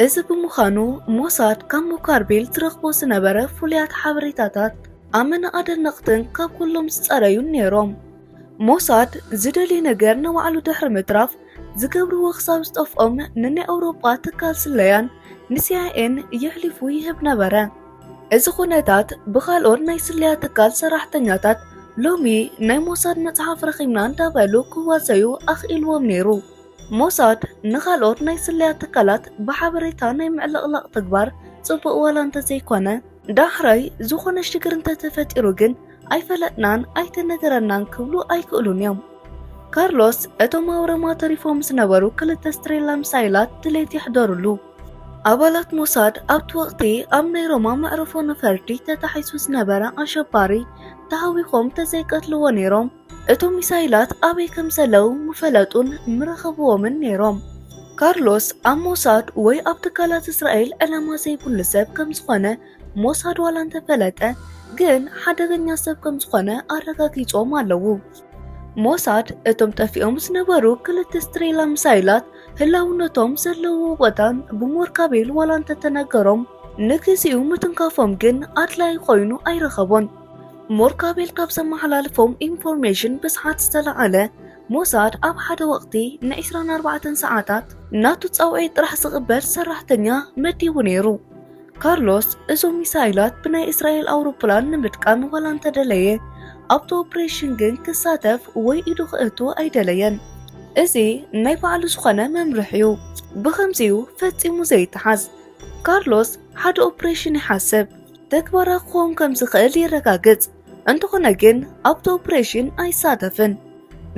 እዚ ብምዃኑ ሞሳድ ካብ ሞካርቤል ዝረኽቦ ዝነበረ ፍሉያት ሓበሬታታት ኣመና ኣደነቕትን ካብ ኩሎም ዝጸረዩን ነይሮም። ሞሳድ ዝደልዮ ነገር ንባዕሉ ድሕሪ ምትራፍ ዝገብርዎ ክሳብ ዝጠፍኦም ንናይ ኣውሮጳ ትካል ስለያን ንሲኣይኤን የሕሊፉ ይህብ ነበረ። እዚ ኩነታት ብካልኦት ናይ ስለያ ትካል ሰራሕተኛታት ሎሚ ናይ ሞሳድ መጽሓፍ ረኺብና እንዳበሉ ክዋሰዩ ኣኽኢልዎም ነይሩ። ሞሳድ ንካልኦት ናይ ስለያ ትካላት ብሓበሬታ ናይ ምዕልቕላቕ ተግባር ጽቡቕ ዋላ እንተዘይኮነ ዳሕራይ ዝኾነ ሽግር እንተተፈጢሩ ግን ኣይፈለጥናን ኣይተነገረናን ክብሉ ኣይክእሉን እዮም። ካርሎስ እቶም ኣብ ሮማ ተሪፎም ዝነበሩ ክልተ ስትሬላ ሚሳይላት ድሌት የሕደሩሉ። ኣባላት ሞሳድ ኣብቲ ወቕቲ ኣብ ናይ ሮማ መዕርፎ ነፈርቲ ተታሒሱ ዝነበረ ኣሸባሪ ተሃዊኾም ተዘይቀትልዎ ነይሮም እቶም ሚሳይላት ኣበይ ከም ዘለው ምፈለጡን ምረኸብዎምን ነይሮም። ካርሎስ ኣብ ሞሳድ ወይ ኣብ ትካላት እስራኤል ዕላማ ዘይብሉ ሰብ ከም ዝኾነ ሞሳድ ዋላ እንተፈለጠ ግን ሓደገኛ ሰብ ከም ዝኾነ ኣረጋጊጾም ኣለዉ። ሞሳድ እቶም ጠፊኦም ዝነበሩ ክልተ ስትሬላ ሚሳይላት ህላውነቶም ዘለዎ ቦታን ብሞርካቤል ዋላ እንተተነገሮም ንግዚኡ ምትንካፎም ግን ኣድላይ ኮይኑ ኣይረኸቦን። ሞርካቤል ካብ ዘመሓላልፎም ኢንፎርሜሽን ብስሓት ዝተላዓለ ሞሳድ ኣብ ሓደ ወቕቲ ን24 ሰዓታት ናቱ ጻውዒት ጥራሕ ዝቕበል ሰራሕተኛ መዲቡ ነይሩ። ካርሎስ እዞም ሚሳይላት ብናይ እስራኤል ኣውሮፕላን ንምድቃን ዋላ እንተደለየ ኣብቲ ኦፕሬሽን ግን ክሳተፍ ወይ ኢዱ ክእቱ ኣይደለየን። እዚ ናይ ባዕሉ ዝኾነ መምርሕ እዩ ብኸምዚ እዩ ፈጺሙ ዘይተሓዝ ካርሎስ ሓደ ኦፕሬሽን ይሓስብ ተግባራ ክኸውን ከም ዝኽእል ይረጋግጽ እንተኾነ ግን ኣብቲ ኦፕሬሽን ኣይሳተፍን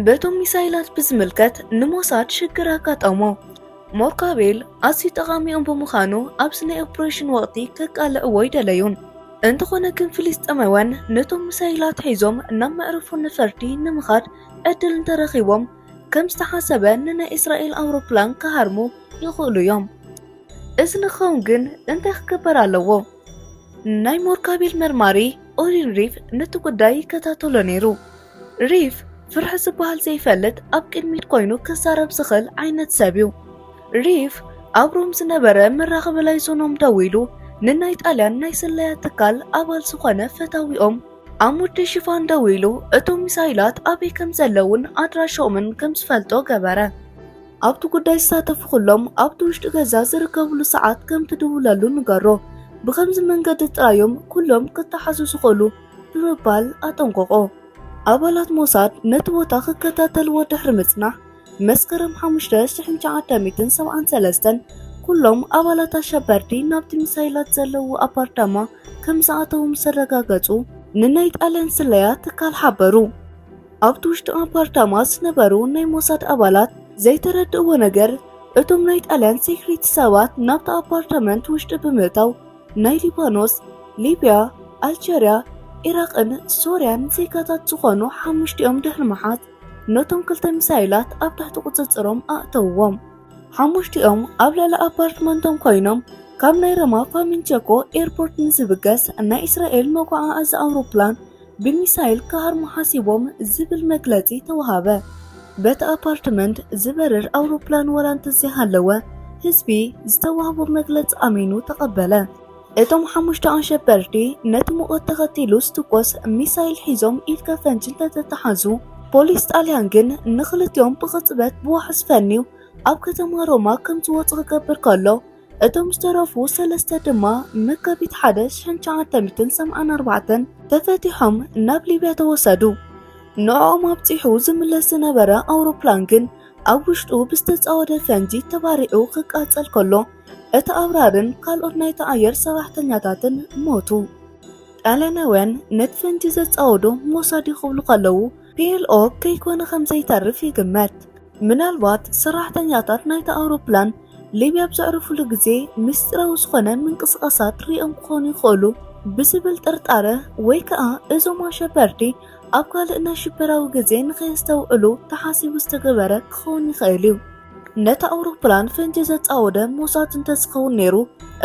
በቶም ሚሳይላት ብዝምልከት ንሞሳድ ሽግር ኣጋጠሞ ሞርካቤል ኣዝዩ ጠቓሚኦም ብምዃኑ ኣብዚ ናይ ኦፕሬሽን ወቕቲ ከቃልዕዎ ይደለዩ። እንተኾነ ግን ፍልስጤማውያን ነቶም ምሳይላት ሒዞም ናብ መዕርፎ ነፈርቲ ንምኻድ ዕድል እንተረኺቦም ከም ዝተሓሰበ ንናይ እስራኤል ኣውሮፕላን ክሃርሙ ይኽእሉ እዮም። እዚ ንክኸውን ግን እንታይ ክግበር ኣለዎ? ናይ ሞርካቤል መርማሪ ኦሪን ሪፍ ነቲ ጉዳይ ይከታተሎ ነይሩ። ሪፍ ፍርሒ ዝበሃል ዘይፈልጥ ኣብ ቅድሚት ኮይኑ ክዛረብ ዝኽእል ዓይነት ሰብ እዩ። ሪፍ ኣብ ሮም ዝነበረ መራኸቢ ላይዞኖም ደዊሉ ንናይ ጣልያን ናይ ስለያ ትካል ኣባል ዝኾነ ፈታዊኦም ኣብ ውዲ ሽፋን ደዊሉ እቶም ሚሳይላት ኣበይ ከም ዘለዉን ኣድራሻኦምን ከም ዝፈልጦ ገበረ። ኣብቲ ጉዳይ ዝሳተፉ ኩሎም ኣብቲ ውሽጢ ገዛ ዝርከብሉ ሰዓት ከም ትድውለሉ ንገሮ። ብኸምዚ መንገዲ ጥራይ እዮም ኩሎም ክተሓዙ ዝኽእሉ። ብምባል ኣጠንቆቆ። ኣባላት ሞሳድ ነቲ ቦታ ክከታተልዎ ድሕሪ ምጽናሕ መስከረም 5973 ኩሎም ኣባላት ኣሸበርቲ ናብቲ ሚሳይላት ዘለዎ ኣፓርታማ ከም ዝኣተዉ ምስ ኣረጋገጹ ንናይ ጣልያን ስለያ ትካል ሓበሩ። ኣብቲ ውሽጢ ኣፓርታማ ዝነበሩ ናይ ሞሳድ ኣባላት ዘይተረድእዎ ነገር እቶም ናይ ጣልያን ሴክሪቲ ሰባት ናብቲ ኣፓርታመንት ውሽጢ ብምእታው ናይ ሊባኖስ፣ ሊብያ፣ ኣልጀርያ፣ ኢራቕን ሶርያን ዜጋታት ዝኾኑ ሓሙሽቲኦም ድሕሪ ምሓዝ ነቶም ክልተ ሚሳይላት ኣብ ትሕቲ ቁጽጽሮም ኣእተውዎም። ሓሙሽቲኦም ኣብ ልዕሊ ኣፓርትመንቶም ኮይኖም ካብ ናይ ረማ ፋሚንቸኮ ኤርፖርት ንዝብገስ ናይ እስራኤል መጓዓዓዚ ኣውሮፕላን ብሚሳይል ክሃርሙ ሓሲቦም ዝብል መግለጺ ተዋሃበ። በቲ ኣፓርትመንት ዝበርር ኣውሮፕላን ወላ እንተዘይሃለወ ህዝቢ ዝተዋህቦ መግለጺ ኣሚኑ ተቐበለ። እቶም ሓሙሽተ ኣሸበርቲ ነቲ ሙቐት ተኸቲሉ ዝትኮስ ሚሳይል ሒዞም ኢድ ከፈንጂ እንተተተሓዙ ፖሊስ ጣልያን ግን ንኽልቲኦም ብቕጽበት ብዋሕስ ፈንዩ ኣብ ከተማ ሮማ ከም ዝወጹ ክገብር ከሎ እቶም ዝተረፉ ሰለስተ ድማ መጋቢት ሓደ ሽሕን ሸዓተ ሚእትን ሰብዓን ኣርባዕተን ተፈቲሖም ናብ ሊብያ ተወሰዱ። ንዕኦም ኣብፂሑ ዝምለስ ዝነበረ ኣውሮፕላን ግን ኣብ ውሽጡ ብዝተፃወደ ፈንጂ ተባሪዑ ክቃፀል ከሎ እቲ ኣብራርን ካልኦት ናይቲ ኣየር ሰራሕተኛታትን ሞቱ። ጣልያናውያን ነቲ ፈንጂ ዘፃወዶ ሞሳድ ክብሉ ከለዉ ፒኤልኦ ከይኮነ ከምዘይተርፍ ይግመት። ምናልባት ሰራሕተኛታት ናይታ ኣውሮፕላን ሊብያ ኣብ ዘዕርፉሉ ግዜ ምስጢራዊ ዝኾነ ምንቅስቓሳት ርእዮም ክኾኑ ይኽእሉ ብዝብል ጥርጣረ ወይ ከኣ እዞም ኣሸበርቲ ኣብ ካልእ ናይ ሽበራዊ ግዜ ንኸየስተውዕሉ ተሓሲቡ ዝተገበረ ክኸውን ይኽእል እዩ። ነታ ኣውሮፕላን ፈንጂ ዘጻወደ ሞሳድ እንተዝኸውን ነይሩ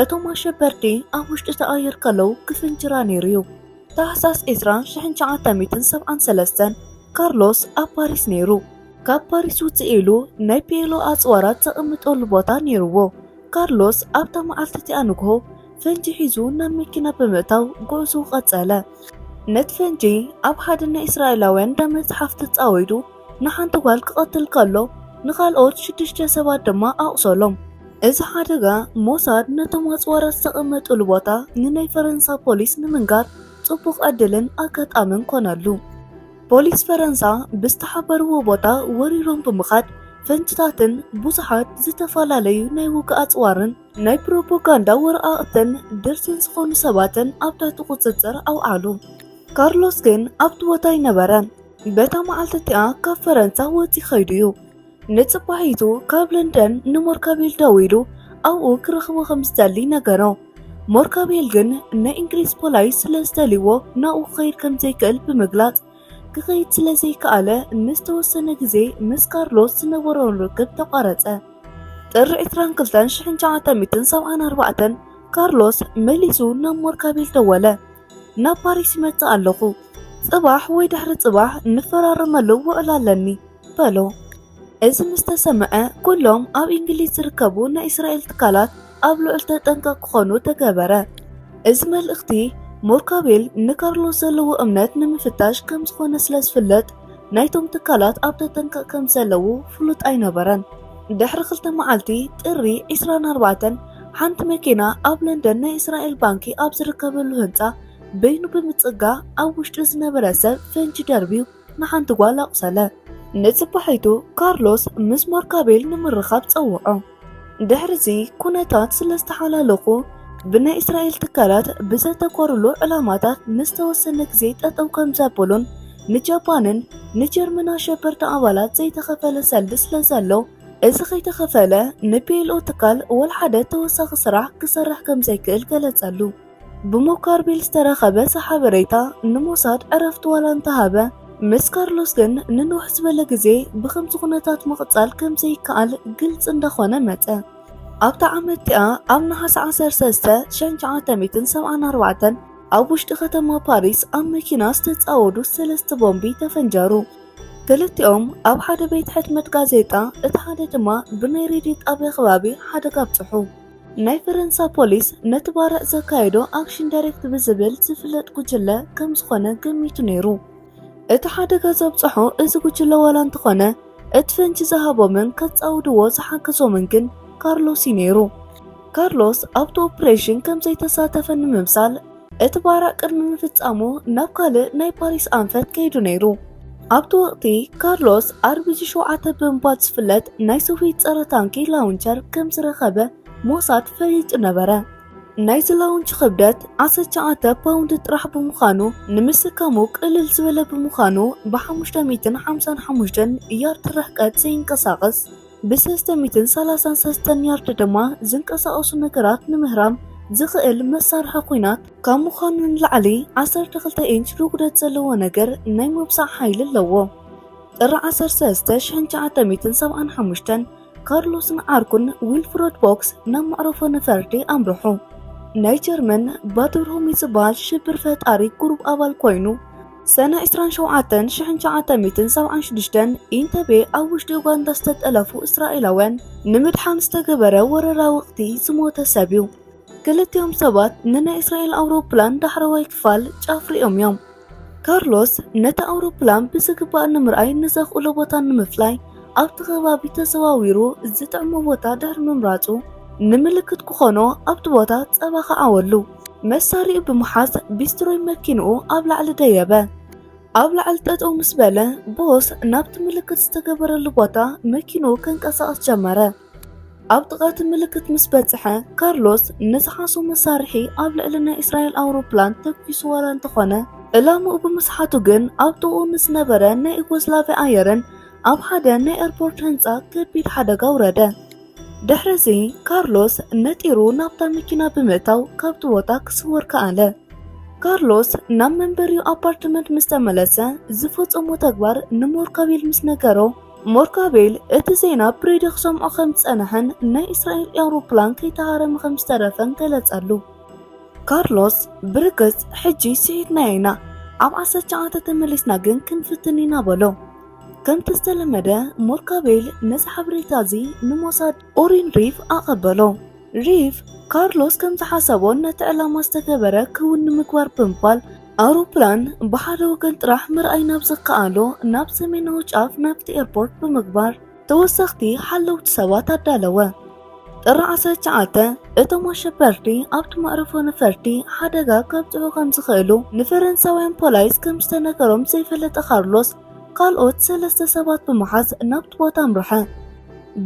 እቶም ኣሸበርቲ ኣብ ውሽጢ'ቲ ኣየር ከለዉ ክፍንጅራ ነይሩ እዩ። ታሕሳስ ዕስራ ሽሕን ትሽዓተ ሚእትን ሰብዓን ሰለስተን ካርሎስ ኣብ ፓሪስ ነይሩ። ካብ ፓሪስ ውጽእ ኢሉ ናይ ፒኤሎ ኣጽዋራት ዘቐምጠሉ ቦታ ነይሩዎ። ካርሎስ ኣብታ መዓልቲ እቲኣ ንግሆ ፈንጂ ሒዙ ናብ መኪና ብምእታው ጉዕዝኡ ቀጸለ። ነቲ ፈንጂ ኣብ ሓደ ናይ እስራኤላውያን እንዳ መጽሓፍ ተጻዊዱ ንሓንቲ ጓል ክቐትል ከሎ ንኻልኦት ሽዱሽተ ሰባት ድማ ኣቑሰሎም። እዚ ሓደጋ፣ ሞሳድ ነቶም ኣጽዋራት ዝተቐመጡሉ ቦታ ንናይ ፈረንሳ ፖሊስ ንምንጋር ጽቡቕ ዕድልን ኣጋጣምን ኰነሉ። ፖሊስ ፈረንሳ ብዝተሓበርዎ ቦታ ወሪሮም ብምኻድ ፈንጅታትን ብዙሓት ዝተፈላለዩ ናይ ውግእ ኣጽዋርን ናይ ፕሮፖጋንዳ ወረቓቕትን ድርትን ዝዀኑ ሰባትን ኣብ ትሕቲ ቍጽጽር ኣውዓሉ። ካርሎስ ግን ኣብቲ ቦታ ኣይነበረን። በታ መዓልቲ እቲኣ ካብ ፈረንሳ ወፂ ኸይዱ እዩ ንፅባሒቱ ካብ ለንደን ንሞርካቤል ደዊሉ ኣብኡ ክረኽቦ ከም ዝደሊ ነገሮ ሞርካቤል ግን ናይ እንግሊዝ ፖላይ ስለ ዝደልዎ ናብኡ ክኸይድ ከም ዘይክእል ብምግላፅ ክኸይድ ስለ ዘይከኣለ ንዝተወሰነ ግዜ ምስ ካርሎስ ዝነበሮን ርክብ ተቋረፀ ጥሪ 22 1974 ካርሎስ መሊሱ ናብ ሞርካቤል ደወለ ናብ ፓሪስ ይመጽእ ኣለኹ፣ ጽባሕ ወይ ድሕሪ ጽባሕ እንፈራረመሉ ውዕል ኣለኒ በሎ። እዚ ምስ ተሰምዐ ኩሎም ኣብ እንግሊዝ ዝርከቡ ናይ እስራኤል ትካላት ኣብ ልዑል ተጠንቀቕ ክኾኑ ተገበረ። እዚ መልእኽቲ ሞርካቤል ንካርሎስ ዘለዎ እምነት ንምፍታሽ ከም ዝኾነ ስለ ዝፍለጥ ናይቶም ትካላት ኣብ ተጠንቀቕ ከም ዘለዉ ፍሉጥ ኣይነበረን። ድሕሪ ክልተ መዓልቲ ጥሪ 24 ሓንቲ መኪና ኣብ ለንደን ናይ እስራኤል ባንኪ ኣብ ዝርከበሉ ህንፃ በይኑ ብምፅጋ ኣብ ውሽጢ ዝነበረ ሰብ ፈንጂ ደርብዩ ንሓንቲ ጓል ኣቑሰለ። ንፅባሒቱ ካርሎስ ምስ ሞርካቤል ንምርኻብ ፀውዖ። ድሕሪ'ዚ ኩነታት ስለ ዝተሓላለኹ፣ ብናይ እስራኤል ትካላት ብዘተኮሩሉ ዕላማታት ንዝተወሰነ ግዜ ጠጠው ከም ዘበሉን፣ ንጃፓንን ንጀርመን ኣሸበርቲ ኣባላት ዘይተኸፈለ ሰልዲ ስለ ዘሎ፣ እዚ ከይተኸፈለ ንፒኤልኦ ትካል ዋላ ሓደ ተወሳኺ ስራሕ ክሰርሕ ከም ዘይክእል ገለጸሉ። ብሞካርቢል ዝተረኸበ እቲ ሓበሬታ ንሞሳድ ዕረፍቲ ዋላ እንተሃበ፣ ምስ ካርሎስ ግን ንንውሕ ዝበለ ግዜ ብኸምዚ ኩነታት ምቕጻል ከም ዘይከኣል ግልጺ እንዳኾነ መጸ። ኣብታ ዓመት እቲኣ ኣብ ነሓሰ ዓሰርተ ሰለስተ ሸሕን ትሽዓተ ሚእትን ሰብዓን ኣርባዕተን ኣብ ውሽጢ ከተማ ፓሪስ ኣብ መኪና ዝተጻወዱ ሰለስተ ቦምቢ ተፈንጀሩ። ክልቲኦም ኣብ ሓደ ቤት ሕትመት ጋዜጣ፣ እቲ ሓደ ድማ ብናይ ሬድዮ ጣብያ ከባቢ ሓደጋ ኣብጽሑ። ናይ ፈረንሳ ፖሊስ ነቲ ባርዕ ዘካየዶ ኣክሽን ዳይሬክት ብዝብል ዝፍለጥ ጉጅለ ከም ዝኾነ ገሚቱ ነይሩ። እቲ ሓደጋ ዘብጽሖ እዚ ጉጅለ ዋላ እንተኾነ እቲ ፈንጂ ዝሃቦምን ከጻውድዎ ዝሓገዞምን ግን ካርሎስ እዩ ነይሩ። ካርሎስ ኣብቲ ኦፕሬሽን ከም ዘይተሳተፈ ንምምሳል እቲ ባራዕ ቅድሚ ምፍጻሙ ናብ ካልእ ናይ ፓሪስ ኣንፈት ከይዱ ነይሩ። ኣብቲ ወቕቲ ካርሎስ ኣርቢጂ ሸውዓተ ብምባል ዝፍለጥ ናይ ሶቪየት ጸረ ታንኪ ላውንቸር ከም ዝረኸበ ሞሳድ ፈሊጡ ነበረ። ናይዚ ላውንች ክብደት 19 ፓውንድ ጥራሕ ብምዃኑ ንምስካሙ ቅልል ዝበለ ብምዃኑ ብ555 ያርድ ርሕቀት ዘይንቀሳቐስ ብሰስተሚትን ሰላሳን ሰስተን ያርድ ድማ ዝንቀሳቐሱ ነገራት ንምህራም ዝኽእል መሳርሒ ኲናት ካብ ምዃኑ ንላዕሊ ዓሰርተ ክልተ ኢንች ርጉደት ዘለዎ ነገር ናይ ምውጻእ ሓይሊ ኣለዎ። ጥሪ ዓሰርተ ሰለስተ ሽሕን ትሽዓተ ሚእትን ሰብዓን ሓሙሽተን ካርሎስን ዓርኩን ዊልፍረድ ቦክስ ናብ መዕረፎ ነፈርቲ ኣምርሑ። ናይ ጀርመን ባድርሁሚት ዝበሃል ሽብር ፈጣሪ ጉሩብ ኣባል ኮይኑ፣ ሰነ ዕስራን ሸውዓተን ሽሕን ትሽዓተ ሚእትን ሰብዓን ሽዱሽተን ኢንተቤ ኣብ ውሽጢ ኡጋንዳ ዝተጠለፉ እስራኤላውያን ንምድሓን ዝተገበረ ወረራ ወቕቲ ዝሞተ ሰብ እዩ። ክልቲኦም ሰባት ንናይ እስራኤል ኣውሮፕላን ዳሕረዋይ ክፋል ጫፍ ሪኦም እዮም። ካርሎስ ነቲ ኣውሮፕላን ብዝግባእ ንምርኣይ ንዘኽእሎ ቦታ ንምፍላይ ኣብቲ ከባቢ ተዘዋዊሩ ዝጥዕሞ ቦታ ድሕሪ ምምራጹ ንምልክት ክኾኖ ኣብቲ ቦታ ጸባ ከዓወሉ መሳሪኡ ብምሓዝ ቢስትሮይ መኪንኡ ኣብ ላዕሊ ደየበ። ኣብ ላዕሊ ጠጠው ምስ በለ ቦስ ናብቲ ምልክት ዝተገበረሉ ቦታ መኪንኡ ከንቀሳቐስ ጀመረ። ኣብ ጥቓቲ ምልክት ምስ በጽሐ ካርሎስ ንዝሓሶ መሳርሒ ኣብ ልዕሊ ናይ እስራኤል ኣውሮፕላን ተኪሱ ዋላ እንተኾነ ዕላምኡ ብምስሓቱ ግን ኣብ ጥቕኡ ንዝነበረ ናይ ዩጎዝላቪያ ኣየርን ኣብ ሓደ ናይ ኤርፖርት ህንፃ ከቢድ ሓደጋ ኣውረደ። ድሕርዚ ካርሎስ ነጢሩ ናብታ መኪና ብምእታው ካብቲ ቦታ ክስወር ከኣለ። ካርሎስ ናብ መንበሪኡ ኣፓርትመንት ምስ ተመለሰ ዝፈጸሞ ተግባር ንሞርካቤል ምስ ነገሮ፣ ሞርካቤል እቲ ዜና ብሬድዮ ክሰምዖ ከም ዝጸንሐን ናይ እስራኤል ኤውሮፕላን ከይተሃረመ ከም ዝተረፈን ገለጸሉ። ካርሎስ ብርግጽ ሕጂ ስሒትናዮ ኢና፣ ኣብ ዓሰርተ ሸውዓተ ተመሊስና ግን ክንፍትን ኢና በሎ። ከምቲ ዝተለመደ ሞርካቤል ነዚ ሓበሬታ እዚ ንሞሳድ ኦሪን ሪፍ ኣቐበሎ። ሪፍ ካርሎስ ከም ዝሓሰቦን ነቲ ዕላማ ዝተገበረ ክውን ንምግባር ብምባል ኣውሮፕላን ብሓደ ወገን ጥራሕ ምርኣይ ናብ ዝከኣሎ ናብ ሰሜናዊ ጫፍ ናብቲ ኤርፖርት ብምግባር ተወሰኽቲ ሓለውቲ ሰባት ኣዳለወ። ጥሪ ዓሰርተ ትሽዓተ እቶም ኣሸበርቲ ኣብቲ መዕርፎ ነፈርቲ ሓደጋ ከብፅሑ ከም ዝኽእሉ ንፈረንሳውያን ፖላይስ ከም ዝተነገሮም ዘይፈለጠ ካርሎስ ካልኦት ሰለስተ ሰባት ብምሓዝ ናብቲ ቦታ ኣምርሐ።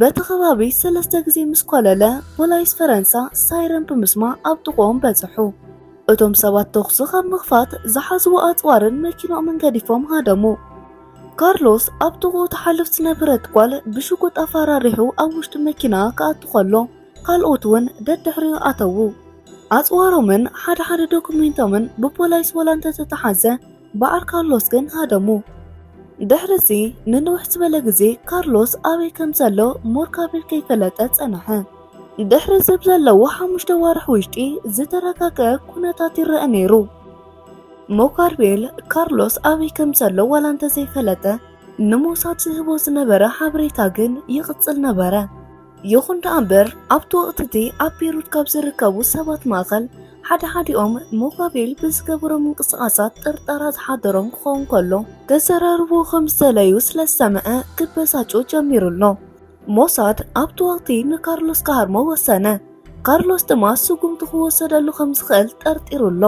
በቲ ከባቢ ሰለስተ ግዜ ምስ ኮለለ ፖላይስ ፈረንሳ ሳይረን ብምስማዕ ኣብ ጥቕኦም በፅሑ። እቶም ሰባት ተኹሲ ካብ ምኽፋት ዝሓዝዎ ኣፅዋርን መኪናኦምን ገዲፎም ሃደሙ። ካርሎስ ኣብ ጥቕኡ ትሓልፍ ዝነበረት ጓል ብሽጉጥ ኣፈራሪሑ ኣብ ውሽጢ መኪና ክኣቱ ከሎ ካልኦት እውን ደድሕሪኡ ኣተዉ። ኣጽዋሮምን ሓደ ሓደ ዶኩሜንቶምን ብፖላይስ ወላ እንተተተሓዘ በዓል ካርሎስ ግን ሃደሙ። ድሕርዚ ንንውሕ ዝበለ ግዜ ካርሎስ ኣበይ ከም ዘሎ ሞርካቤል ከይፈለጠ ጸንሐ። ድሕሪ ዝብ ዘለዎ ሓሙሽተ ዋርሕ ውሽጢ ዝተረጋገ ኩነታት ይረአ ነይሩ። ሞካርቤል ካርሎስ ኣበይ ከም ዘሎ ዋላ እንተዘይፈለጠ ንሞሳድ ዝህቦ ዝነበረ ሓበሬታ ግን ይቕጽል ነበረ። ይኹን ደኣ እምበር ኣብቲ ወቕቲ እቲ ኣብ ቤሩት ካብ ዝርከቡ ሰባት ማእኸል ሓደ ሓዲኦም ሞካቤል ብዝገበሮ ምንቅስቓሳት ጥርጠራ ዝሓደሮም ክኸውን ከሎ ከዘራርቦ ከም ዝተለዩ ስለ ዝሰምዐ ክበሳጮ ጀሚሩ ኣሎ። ሞሳድ ኣብቲ ወቕቲ ንካርሎስ ክሃርሞ ወሰነ። ካርሎስ ድማ ስጉምቲ ክወሰደሉ ከም ዝኽእል ጠርጢሩ ኣሎ።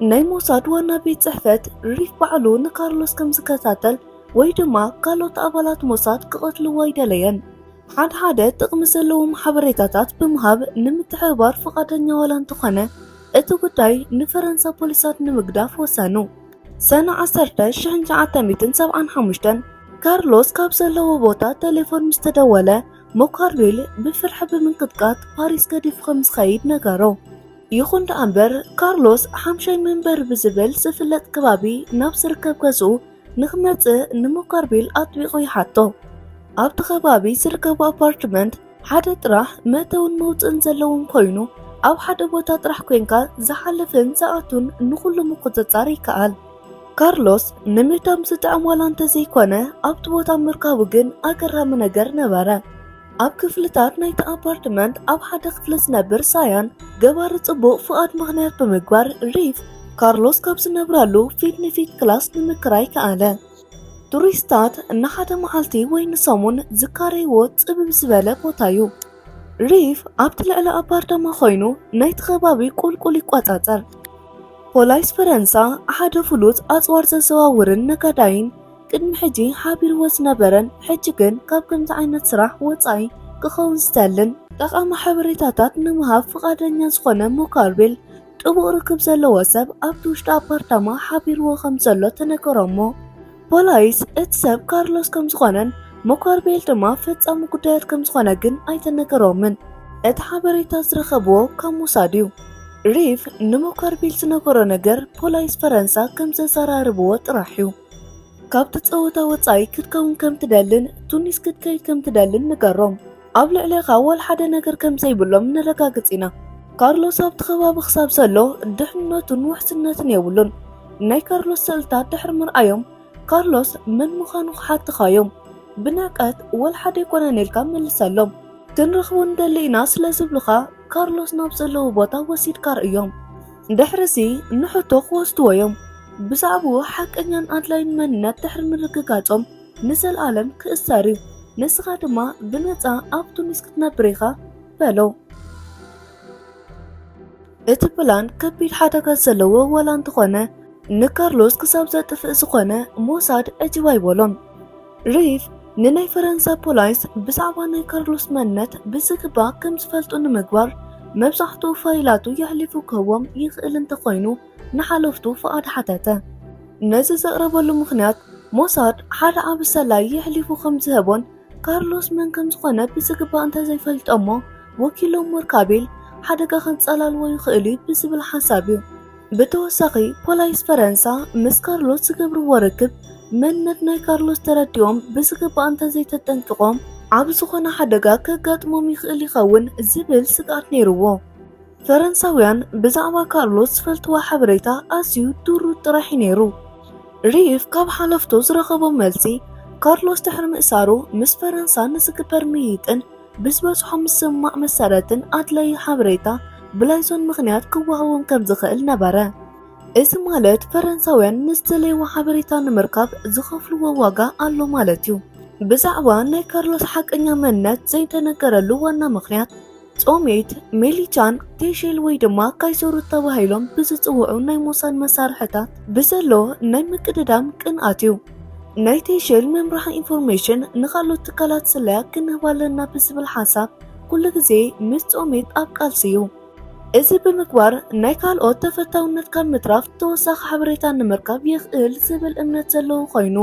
ናይ ሞሳድ ዋና ቤት ጽሕፈት ሪፍ ባዕሉ ንካርሎስ ከም ዝከታተል ወይ ድማ ካልኦት ኣባላት ሞሳድ ክቐትልዎ ኣይደለየን። ሓደ ሓደ ጥቕሚ ዘለዎም ሓበሬታታት ብምሃብ ንምትሕብባር ፍቓደኛ ዋላ እንተኾነ እቲ ጉዳይ ንፈረንሳ ፖሊሳት ንምግዳፍ ወሰኑ። ሰነ 1975 ካርሎስ ካብ ዘለዎ ቦታ ቴሌፎን ምስ ተደወለ ሞካርዌል ብፍርሒ ብምንቅጥቃጥ ፓሪስ ገዲፉ ከም ዝኸይድ ነገሮ። ይኹን ደኣ እምበር ካርሎስ ሓምሻይ መንበሪ ብዝብል ዝፍለጥ ከባቢ ናብ ዝርከብ ገዝኡ ንክመጽእ ንሞካርቤል ኣጥቢቑ ይሓቶ። ኣብቲ ከባቢ ዝርከቡ ኣፓርትመንት ሓደ ጥራሕ መእተውን መውፅእን ዘለዎም ኮይኑ ኣብ ሓደ ቦታ ጥራሕ ኮንካ ዝሓልፍን ዝኣቱን ንኹሉ ምቁፅፃር ይከኣል። ካርሎስ ንምህዳም ዝጥዕም ዋላ እንተዘይኮነ ኣብቲ ቦታ ምርካቡ ግን ኣገራሚ ነገር ነበረ። ኣብ ክፍልታት ናይቲ ኣፓርትመንት ኣብ ሓደ ክፍሊ ዝነብር ሳያን ገባሪ ጽቡቕ ፍቓድ ምኽንያት ብምግባር ሪፍ ካርሎስ ካብ ዝነብረሉ ፊት ንፊት ክላስ ንምክራይ ከኣለ። ቱሪስታት ንሓደ መዓልቲ ወይ ንሰሙን ዝካረይዎ ጽብብ ዝበለ ቦታ እዩ። ሪፍ ኣብቲ ልዕሊ ኣፓርታማ ኮይኑ ናይቲ ከባቢ ቁልቁል ይቆጻጸር። ፖላይስ ፈረንሳ ሓደ ፍሉጥ ኣጽዋር ዘዘዋውርን ነጋዳይን ቅድሚ ሕጂ ሓቢርዎ ዝነበረን ሕጂ ግን ካብ ከምዚ ዓይነት ስራሕ ወጻኢ ክኸውን ዝተልን ጠቓሚ ሓበሬታታት ንምሃብ ፍቓደኛ ዝኾነ ሞካርቤል ጥቡቕ ርክብ ዘለዎ ሰብ ኣብቲ ውሽጢ ኣፓርታማ ሓቢርዎ ከም ዘሎ ተነገሮ'ሞ ፖላይስ እቲ ሰብ ካርሎስ ከም ዝኾነን ሞካርቤል ድማ ፈጻሚ ጉዳያት ከም ዝኾነ ግን ኣይተነገሮምን። እቲ ሓበሬታ ዝረኸብዎ ካብ ሞሳድ እዩ። ሪቭ ንሞካርቤል ዝነገሮ ነገር ፖላይስ ፈረንሳ ከም ዘዘራርብዎ ጥራሕ እዩ። ካብቲ ጸወታ ወጻኢ ክትከውን ከም ትደልን ቱኒስ ክትከይድ ከም ትደልን ንገሮም። ኣብ ልዕሌኻ ወልሓደ ነገር ከም ዘይብሎም ነረጋግጽ ኢና። ካርሎስ ኣብቲ ከባቢ ክሳብ ዘሎ ድሕንነቱን ውሕስነትን የብሉን። ናይ ካርሎስ ስእልታት ድሕሪ ምርኣዮም ካርሎስ መን ምዃኑ ክሓትኻዮም ብንዕቀት ወልሓደ ኣይኮነን ኢልካ መልሰሎም። ክንረኽቦ ንደሊ ኢና ስለ ዝብሉኻ ካርሎስ ናብ ዘለዎ ቦታ ወሲድካ ርእዮም። ድሕርዚ ንሕቶ ክወስድዎ እዮም። ብዛዕብኡ ሓቀኛን ኣድላይን መንነት ድሕሪ ምርግጋጾም ንዘልኣለም ክእሰር እዩ፣ ንስኻ ድማ ብነጻ ኣብ ቱኒስ ክትነብር ኢኻ በሎ። እቲ ፕላን ከቢድ ሓደጋ ዘለዎ ዋላ እንተኾነ ንካርሎስ ክሳብ ዘጥፍእ ዝኾነ ሞሳድ ዕጅብ ኣይበሎን። ሪፍ ንናይ ፈረንሳ ፖላይስ ብዛዕባ ናይ ካርሎስ መንነት ብዝግባእ ከም ዝፈልጡ ንምግባር መብዛሕትኡ ፋይላቱ የሕሊፉ ክህቦም ይኽእል እንተኾይኑ ንሓለፍቱ ፍቓድ ሓተተ። ነዚ ዘቕረበሉ ምኽንያት፣ ሞሳድ ሓደ ዓቢ ሰላዪ የሕሊፉ ከም ዝሀቦን ካርሎስ መን ከም ዝዀነ ብዝግባእ እንተ ዘይፈልጠ'ሞ ወኪሎም ሞርካቤል ሓደጋ ከንጸላልዎ ይኽእል'ዩ ብዝብል ሓሳብ እዩ። ብተወሳኺ፣ ፖላይስ ፈረንሳ ምስ ካርሎስ ዝገብርዎ ርክብ መንነት ናይ ካርሎስ ተረዲኦም ብዝግባእ እንተ ዘይተጠንቂቖም፣ ዓቢ ዝዀነ ሓደጋ ከጋጥሞም ይኽእል ይኸውን ዝብል ስግኣት ነይርዎ። ፈረንሳውያን ብዛዕባ ካርሎስ ዝፈልጥዎ ሓበሬታ ኣዝዩ ድሩት ጥራሕ እዩ ነይሩ። ሪፍ ካብ ሓለፍቱ ዝረኸቦ መልሲ፣ ካርሎስ ድሕሪ ምእሳሩ ምስ ፈረንሳ ንዝግበር ምይይጥን ብዝበጽሖ ምስምማዕ መሰረትን ኣድላዪ ሓበሬታ ብላይዞን ምኽንያት ክወሃቦም ከም ዝኽእል ነበረ። እዚ ማለት ፈረንሳውያን ንዝደለይዎ ሓበሬታ ንምርካብ ዝኸፍልዎ ዋጋ ኣሎ ማለት እዩ። ብዛዕባ ናይ ካርሎስ ሓቀኛ መንነት ዘይተነገረሉ ዋና ምኽንያት፣ ጾሜት፣ ሚሊቻን ቴሼል ወይ ድማ ካይሰሩት ተባሂሎም ብዝጽውዑ ናይ ሞሳድ መሳርሕታት ብዘሎ ናይ ምቅድዳም ቅንኣት እዩ። ናይ ቴሼል ምምራሕ ኢንፎርሜሽን ንኻልኦት ትካላት ስለያ ክንህብ ኣለና ብዝብል ሓሳብ ኩሉ ግዜ ምስ ጾሜት ኣብ ቃልሲ እዩ። እዚ ብምግባር ናይ ካልኦት ተፈታውነት ካብ ምትራፍ ተወሳኺ ሓበሬታ ንምርካብ የኽእል ዝብል እምነት ዘለዎ ኮይኑ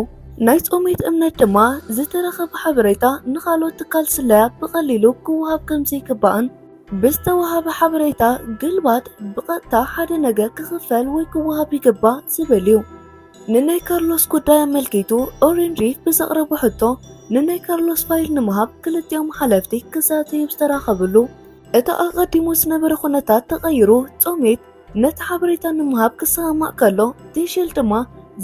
ናይ ጾሜት እምነት ድማ ዝተረኸበ ሓበሬታ ንኻልኦት ትካል ስለያ ብቐሊሉ ክወሃብ ከም ዘይግባእን ብዝተወሃበ ሓበሬታ ግልባጥ ብቐጥታ ሓደ ነገር ክኽፈል ወይ ክወሃብ ይግባእ ዝብል እዩ። ንናይ ካርሎስ ጉዳይ ኣመልኪቱ ኦሪን ሪፍ ብዘቕረቦ ሕቶ ንናይ ካርሎስ ፋይል ንምሃብ ክልቲኦም ሓለፍቲ ክዛተዩ ዝተራኸብሉ እቲ ኣቐዲሙ ዝነበረ ኩነታት ተቐይሩ ጾሜት ነቲ ሓበሬታ ንምሃብ ክሰማማዕ ከሎ ቴሼል ድማ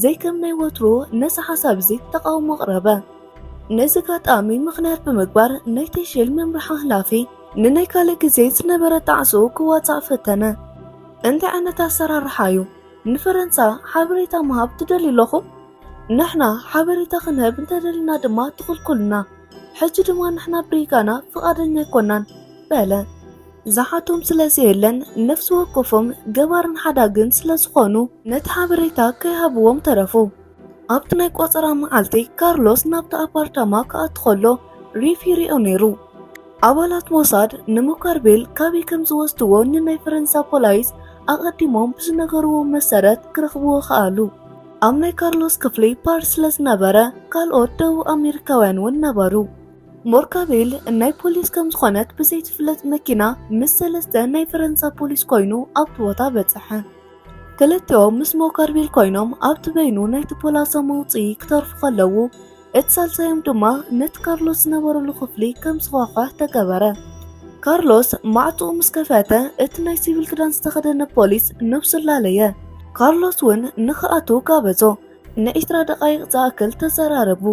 ዘይከም ናይ ወትሩ ነዚ ሓሳብ እዚ ተቃውሞ ኣቕረበ። ነዚ ኣጋጣሚ ምኽንያት ብምግባር ናይ ቴሼል መምርሒ ሓላፊ ንናይ ካልእ ግዜ ዝነበረ ጣዕስኡ ክዋጻእ ፈተነ። እንታይ ዓይነት ኣሰራርሓ እዩ? ንፈረንሳ ሓበሬታ ምሃብ ትደልዩ ኣለኹም? ንሕና ሓበሬታ ክንህብ እንተደሊና ድማ ትኽልኩሉና፣ ሕጂ ድማ ንሕና ብሪጋና ፍቓደኛ ኣይኮናን በለ። ዝሓቶም ስለ ዘየለን ነፍሲ ወከፎም ገባርን ሓዳግን ስለ ዝኾኑ ነቲ ሓበሬታ ከይሃብዎም ተረፉ። ኣብቲ ናይ ቆጸራ መዓልቲ ካርሎስ ናብቲ ኣፓርታማ ክኣቱ ከሎ ሪፍ ይሪኦ ነይሩ። ኣባላት ሞሳድ ንሙካርቤል ካበይ ከም ዝወስድዎ ንናይ ፈረንሳ ፖላይስ ኣቐዲሞም ብዝነገርዎም መሰረት ክረኽብዎ ከኣሉ። ኣብ ናይ ካርሎስ ክፍሊ ፓርስ ስለ ዝነበረ ካልኦት ደቡብ ኣሜሪካውያን እውን ነበሩ። ሞርካቤል ናይ ፖሊስ ከም ዝኾነት ብዘይትፍለጥ መኪና ምስ ሰለስተ ናይ ፈረንሳ ፖሊስ ኮይኑ ኣብቲ ቦታ በጽሐ። ክልቲኦም ምስ ሞካርቤል ኮይኖም ኣብቲ በይኑ ናይቲ ፖላሶ መውፅኢ ክተርፉ ከለዉ እቲ ሳልሳዮም ድማ ነቲ ካርሎስ ዝነበረሉ ክፍሊ ከም ዝኳኳሕ ተገበረ። ካርሎስ ማዕፅኡ ምስ ከፈተ እቲ ናይ ሲቪል ክዳን ዝተኸደነ ፖሊስ ነብሱ ላለየ። ካርሎስ እውን ንክኣቱ ጋበዞ። ንዒስራ ደቓይቕ ዝኣክል ተዘራረቡ።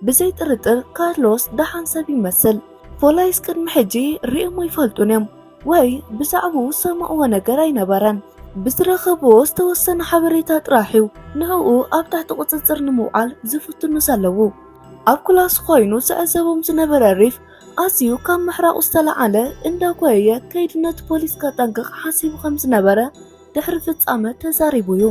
ብዘይ ጥርጥር ካርሎስ ደሓን ሰብ ይመስል። ፎላይስ ቅድሚ ሕጂ ርእዮም ኣይፈልጡን እዮም ወይ ብዛዕብኡ ዝሰምዕዎ ነገር ኣይነበረን። ብዝረኸብዎ ዝተወሰነ ሓበሬታ ጥራሕ እዩ ንዕኡ ኣብ ትሕቲ ቁጽጽር ንምውዓል ዝፍትኑ ዘለዉ። ኣብ ክላሱ ኮይኑ ዝዕዘቦም ዝነበረ ሪፍ ኣዝዩ ካብ ምሕራቑ ዝተለዓለ እንዳጓየየ ከይዲ ነቲ ፖሊስ ከጠንቅቕ ሓሲቡ ከም ዝነበረ ድሕሪ ፍጻመ ተዛሪቡ እዩ።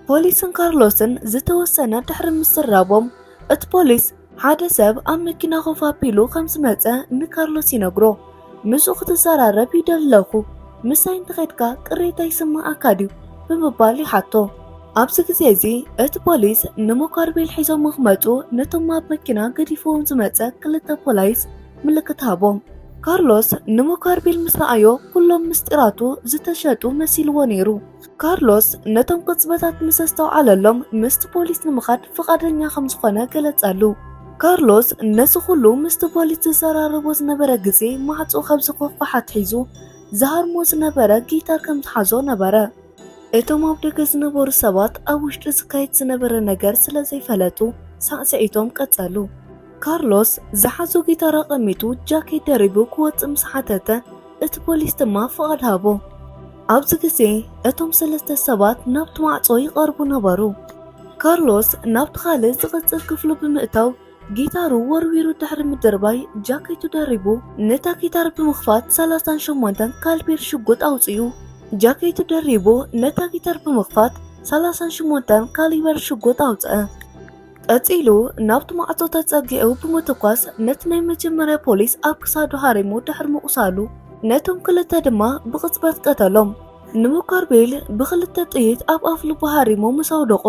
ፖሊስን ካርሎስን ዝተወሰነ ድሕሪ ምስራቦም እቲ ፖሊስ ሓደ ሰብ ኣብ መኪና ኮፍ ኣቢሉ ከም ዝመጸ ንካርሎስ ይነግሮ። ምስኡ ክትዘራረብ ይደለኹ፣ ምሳይ እንተኸድካ ቅሬታ ይስምዓካ ድዩ ብምባል ይሓቶ። ኣብዚ ግዜ እዚ እቲ ፖሊስ ንሞካርቤል ሒዞም ክመጹ ነቶም ኣብ መኪና ገዲፍዎም ዝመጸ ክልተ ፖላይስ ምልክት ሃቦም። ካርሎስ ንሞካርቢል ምስ ረኣዮ ኩሎም ምስጢራቱ ዝተሸጡ መሲልዎ ነይሩ። ካርሎስ ነቶም ቅጽበታት ምስ ኣስተውዓለሎም ምስቲ ፖሊስ ንምኻድ ፍቓደኛ ከም ዝኾነ ገለጸሉ። ካርሎስ ነዚ ኩሉ ምስቲ ፖሊስ ዝዘራረቦ ዝነበረ ግዜ ማዕጾ ካብ ዝኸፍት ኣትሒዙ ዝሃርሞ ዝነበረ ጊታር ከም ዝሓዞ ነበረ። እቶም ኣብ ደገ ዝነበሩ ሰባት ኣብ ውሽጢ ዝካየድ ዝነበረ ነገር ስለ ዘይፈለጡ ሳዕስዒቶም ቀጸሉ። ካርሎስ ዝሓዞ ጊታር ኣቐሚጡ ጃኬት ደሪቡ ክወጽእ ምስ ሓተተ እቲ ፖሊስ ድማ ፍቓድ ሃቦ። ኣብዚ ግዜ እቶም ሰለስተ ሰባት ናብቲ ማዕጾ ይቐርቡ ነበሩ። ካርሎስ ናብቲ ካልእ ዝቕጽል ክፍሉ ብምእታው ጊታሩ ወርዊሩ ድሕሪ ምድርባይ ጃኬቱ ደሪቡ ነታ ጊታር ብምኽፋት ሰላሳን ሸሞንተን ካልቢር ሽጉጥ ኣውጺኡ። ጃኬቱ ደሪቡ ነታ ጊታር ብምኽፋት ሰላሳን ሸሞንተን ካሊበር ሽጉጥ ኣውጽኣ። ቀጺሉ ናብቲ ማዕጾ ተጸጊዑ ብምትኳስ ነቲ ናይ መጀመርያ ፖሊስ ኣብ ክሳዱ ሃሪሙ ድሕሪ ምቑሳሉ ነቶም ክልተ ድማ ብቕጽበት ቀተሎም። ንሙካርቤል ብኽልተ ጥይት ኣብ ኣፍልቡ ሃሪሙ ምስ ኣውደቖ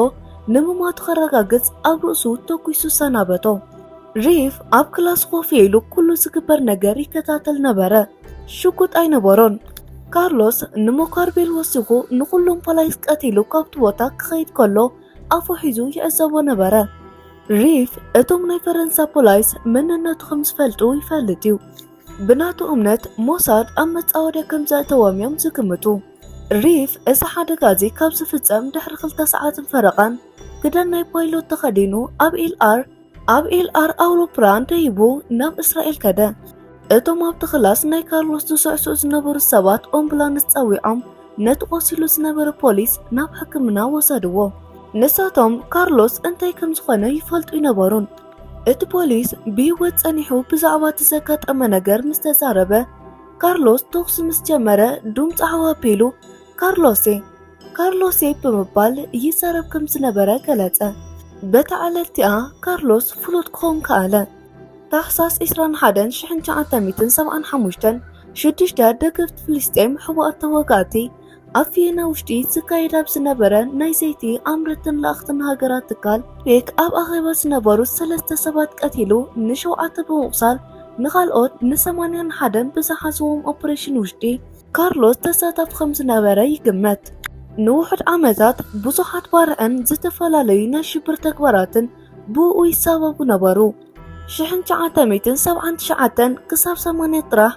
ንምማቱ ከረጋግጽ ኣብ ርእሱ ተኲሱ ሰናበቶ። ሪፍ ኣብ ክላስ ኮፍ ኢሉ ኩሉ ዝግበር ነገር ይከታተል ነበረ። ሽጉጥ ኣይነበሮን። ካርሎስ ንሞካርቤል ወሲኹ ንኹሎም ፖላይስ ቀቲሉ ካብቲ ቦታ ክኸይድ ከሎ ኣፉ ሒዙ ይዕዘቦ ነበረ። ሪፍ እቶም ናይ ፈረንሳ ፖላይስ መንነቱ ከም ዝፈልጡ ይፈልጥ እዩ። ብናቱ እምነት ሞሳድ ኣብ መጻወድያ ከም ዘእተዎም እዮም ዝግምቱ። ሪፍ እዚ ሓደጋ እዚ ካብ ዝፍጸም ድሕሪ ክልተ ሰዓትን ፈረቓን ክዳን ናይ ፓይሎት ተኸዲኑ ኣብ ኢልኣር ኣብ ኤልኣር ኣውሮፕላን ደይቡ ናብ እስራኤል ከደ። እቶም ኣብቲ ክላስ ናይ ካርሎስ ዝስዕስዑ ዝነበሩ ሰባት ኦምቡላንስ ጸዊዖም ነቲ ቆሲሉ ዝነበረ ፖሊስ ናብ ሕክምና ወሰድዎ። ንሳቶም ካርሎስ እንታይ ከም ዝኾነ ይፈልጡ ይነበሩን። እቲ ፖሊስ ብህይወት ጸኒሑ ብዛዕባ እቲ ዘጋጠመ ነገር ምስ ተዛረበ ካርሎስ ተኹሲ ምስ ጀመረ ዱም ጻዕዋ ኣቢሉ ካርሎሴ ካርሎሴ ብምባል ይዛረብ ከም ዝነበረ ገለጸ። በታ ዕለት እቲኣ ካርሎስ ፍሉጥ ክኸውን ከኣለ። ታሕሳስ 21975 ሽዱሽተ ደገፍቲ ፍልስጤም ሕቡኣት ተዋጋእቲ ኣብ ቪየና ውሽጢ ዝካየድ ኣብ ዝነበረ ናይ ዘይቲ ኣምረትን ለኣኽትን ሃገራት ትካል ፔክ ኣብ ኣኼባ ዝነበሩ ሰለስተ ሰባት ቀቲሉ ንሸውዓተ ብምቑሳል ንኻልኦት ንሰማንያን ሓደን ብዝሓዝዎም ኦፕሬሽን ውሽጢ ካርሎስ ተሳታፊ ከም ዝነበረ ይግመት። ንውሑድ ዓመታት ብዙሓት ባርዕን ዝተፈላለዩ ናይ ሽብር ተግባራትን ብእኡ ይሳበቡ ነበሩ። ሽሕን ትሽዓተ ሚእትን ሰብዓን ትሽዓተን ክሳብ ሰማንያ ጥራሕ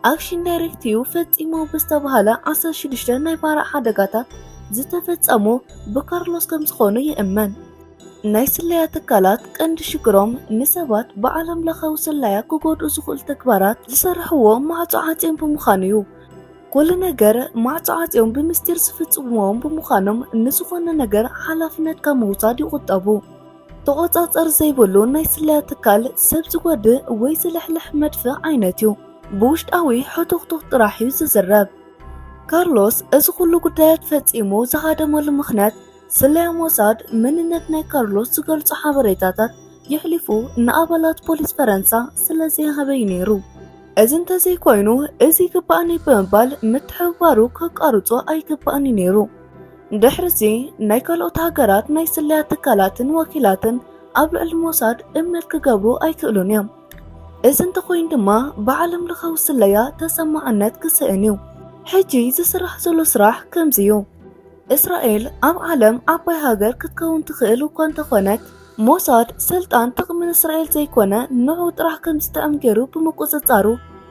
ኣክሽን ዳይሬክቲቭ ፈጺሞ ብዝተባህለ ዓሰርተ ሽዱሽተ ናይ ባርዕ ሓደጋታት ዝተፈጸሙ ብካርሎስ ከም ዝኾኑ ይእመን። ናይ ስለያ ትካላት ቀንዲ ሽግሮም ንሰባት ብዓለም ለኻዊ ስለያ ክጎድኡ ዝኽእሉ ተግባራት ዝሰርሕዎ ማዕጾ ዓጽዮም ብምዃኑ እዩ። ኩሉ ነገር ማዕጾ ዓጽዮም ብምስጢር ዝፍጽምዎም ብምዃኖም ንዝኾነ ነገር ሓላፍነት ካብ ምውሳድ ይቑጠቡ። ተቖጻጸር ዘይብሉ ናይ ስለያ ትካል ሰብ ዝጎድእ ወይ ዝልሕልሕ መድፍዕ ዓይነት እዩ። ብውሽጣዊ ሕቱኽቱኽ ጥራሕ እዩ ዝዝረብ። ካርሎስ እዚ ኩሉ ጉዳያት ፈጺሙ ዝሃደመሉ ምኽንያት ስለያ ሞሳድ መንነት ናይ ካርሎስ ዝገልጹ ሓበሬታታት የሕሊፉ ንኣባላት ፖሊስ ፈረንሳ ስለ ዘይሃበዩ ነይሩ። እዚ እንተዘይኮይኑ እዚ ይግባእኒ ብምባል ምትሕብባሩ ከቃርጾ ኣይግባእኒ ነይሩ። ድሕርዚ ናይ ካልኦት ሃገራት ናይ ስለያ ትካላትን ወኪላትን ኣብ ልዕሊ ሞሳድ እምነት ክገብሩ ኣይክእሉን እዮም። እዚ እንተኾይኑ ድማ ብዓለም ለኻዊ ስለያ ተሰማዕነት ክስእን እዩ። ሕጂ ዝስራሕ ዘሎ ስራሕ ከምዚ እዩ። እስራኤል ኣብ ዓለም ዓባይ ሃገር ክትከውን ትኽእል እኳ እንተኾነት ሞሳድ ስልጣን ጥቕሚ ንእስራኤል ዘይኮነ ንዑ ጥራሕ ከም ዝጥዕም ገይሩ ብምቁፅፃሩ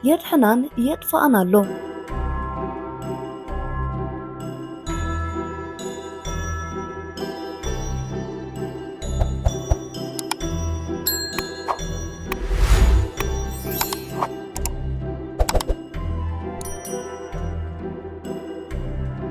የድሕናን የጥፋኣን ኣሎ።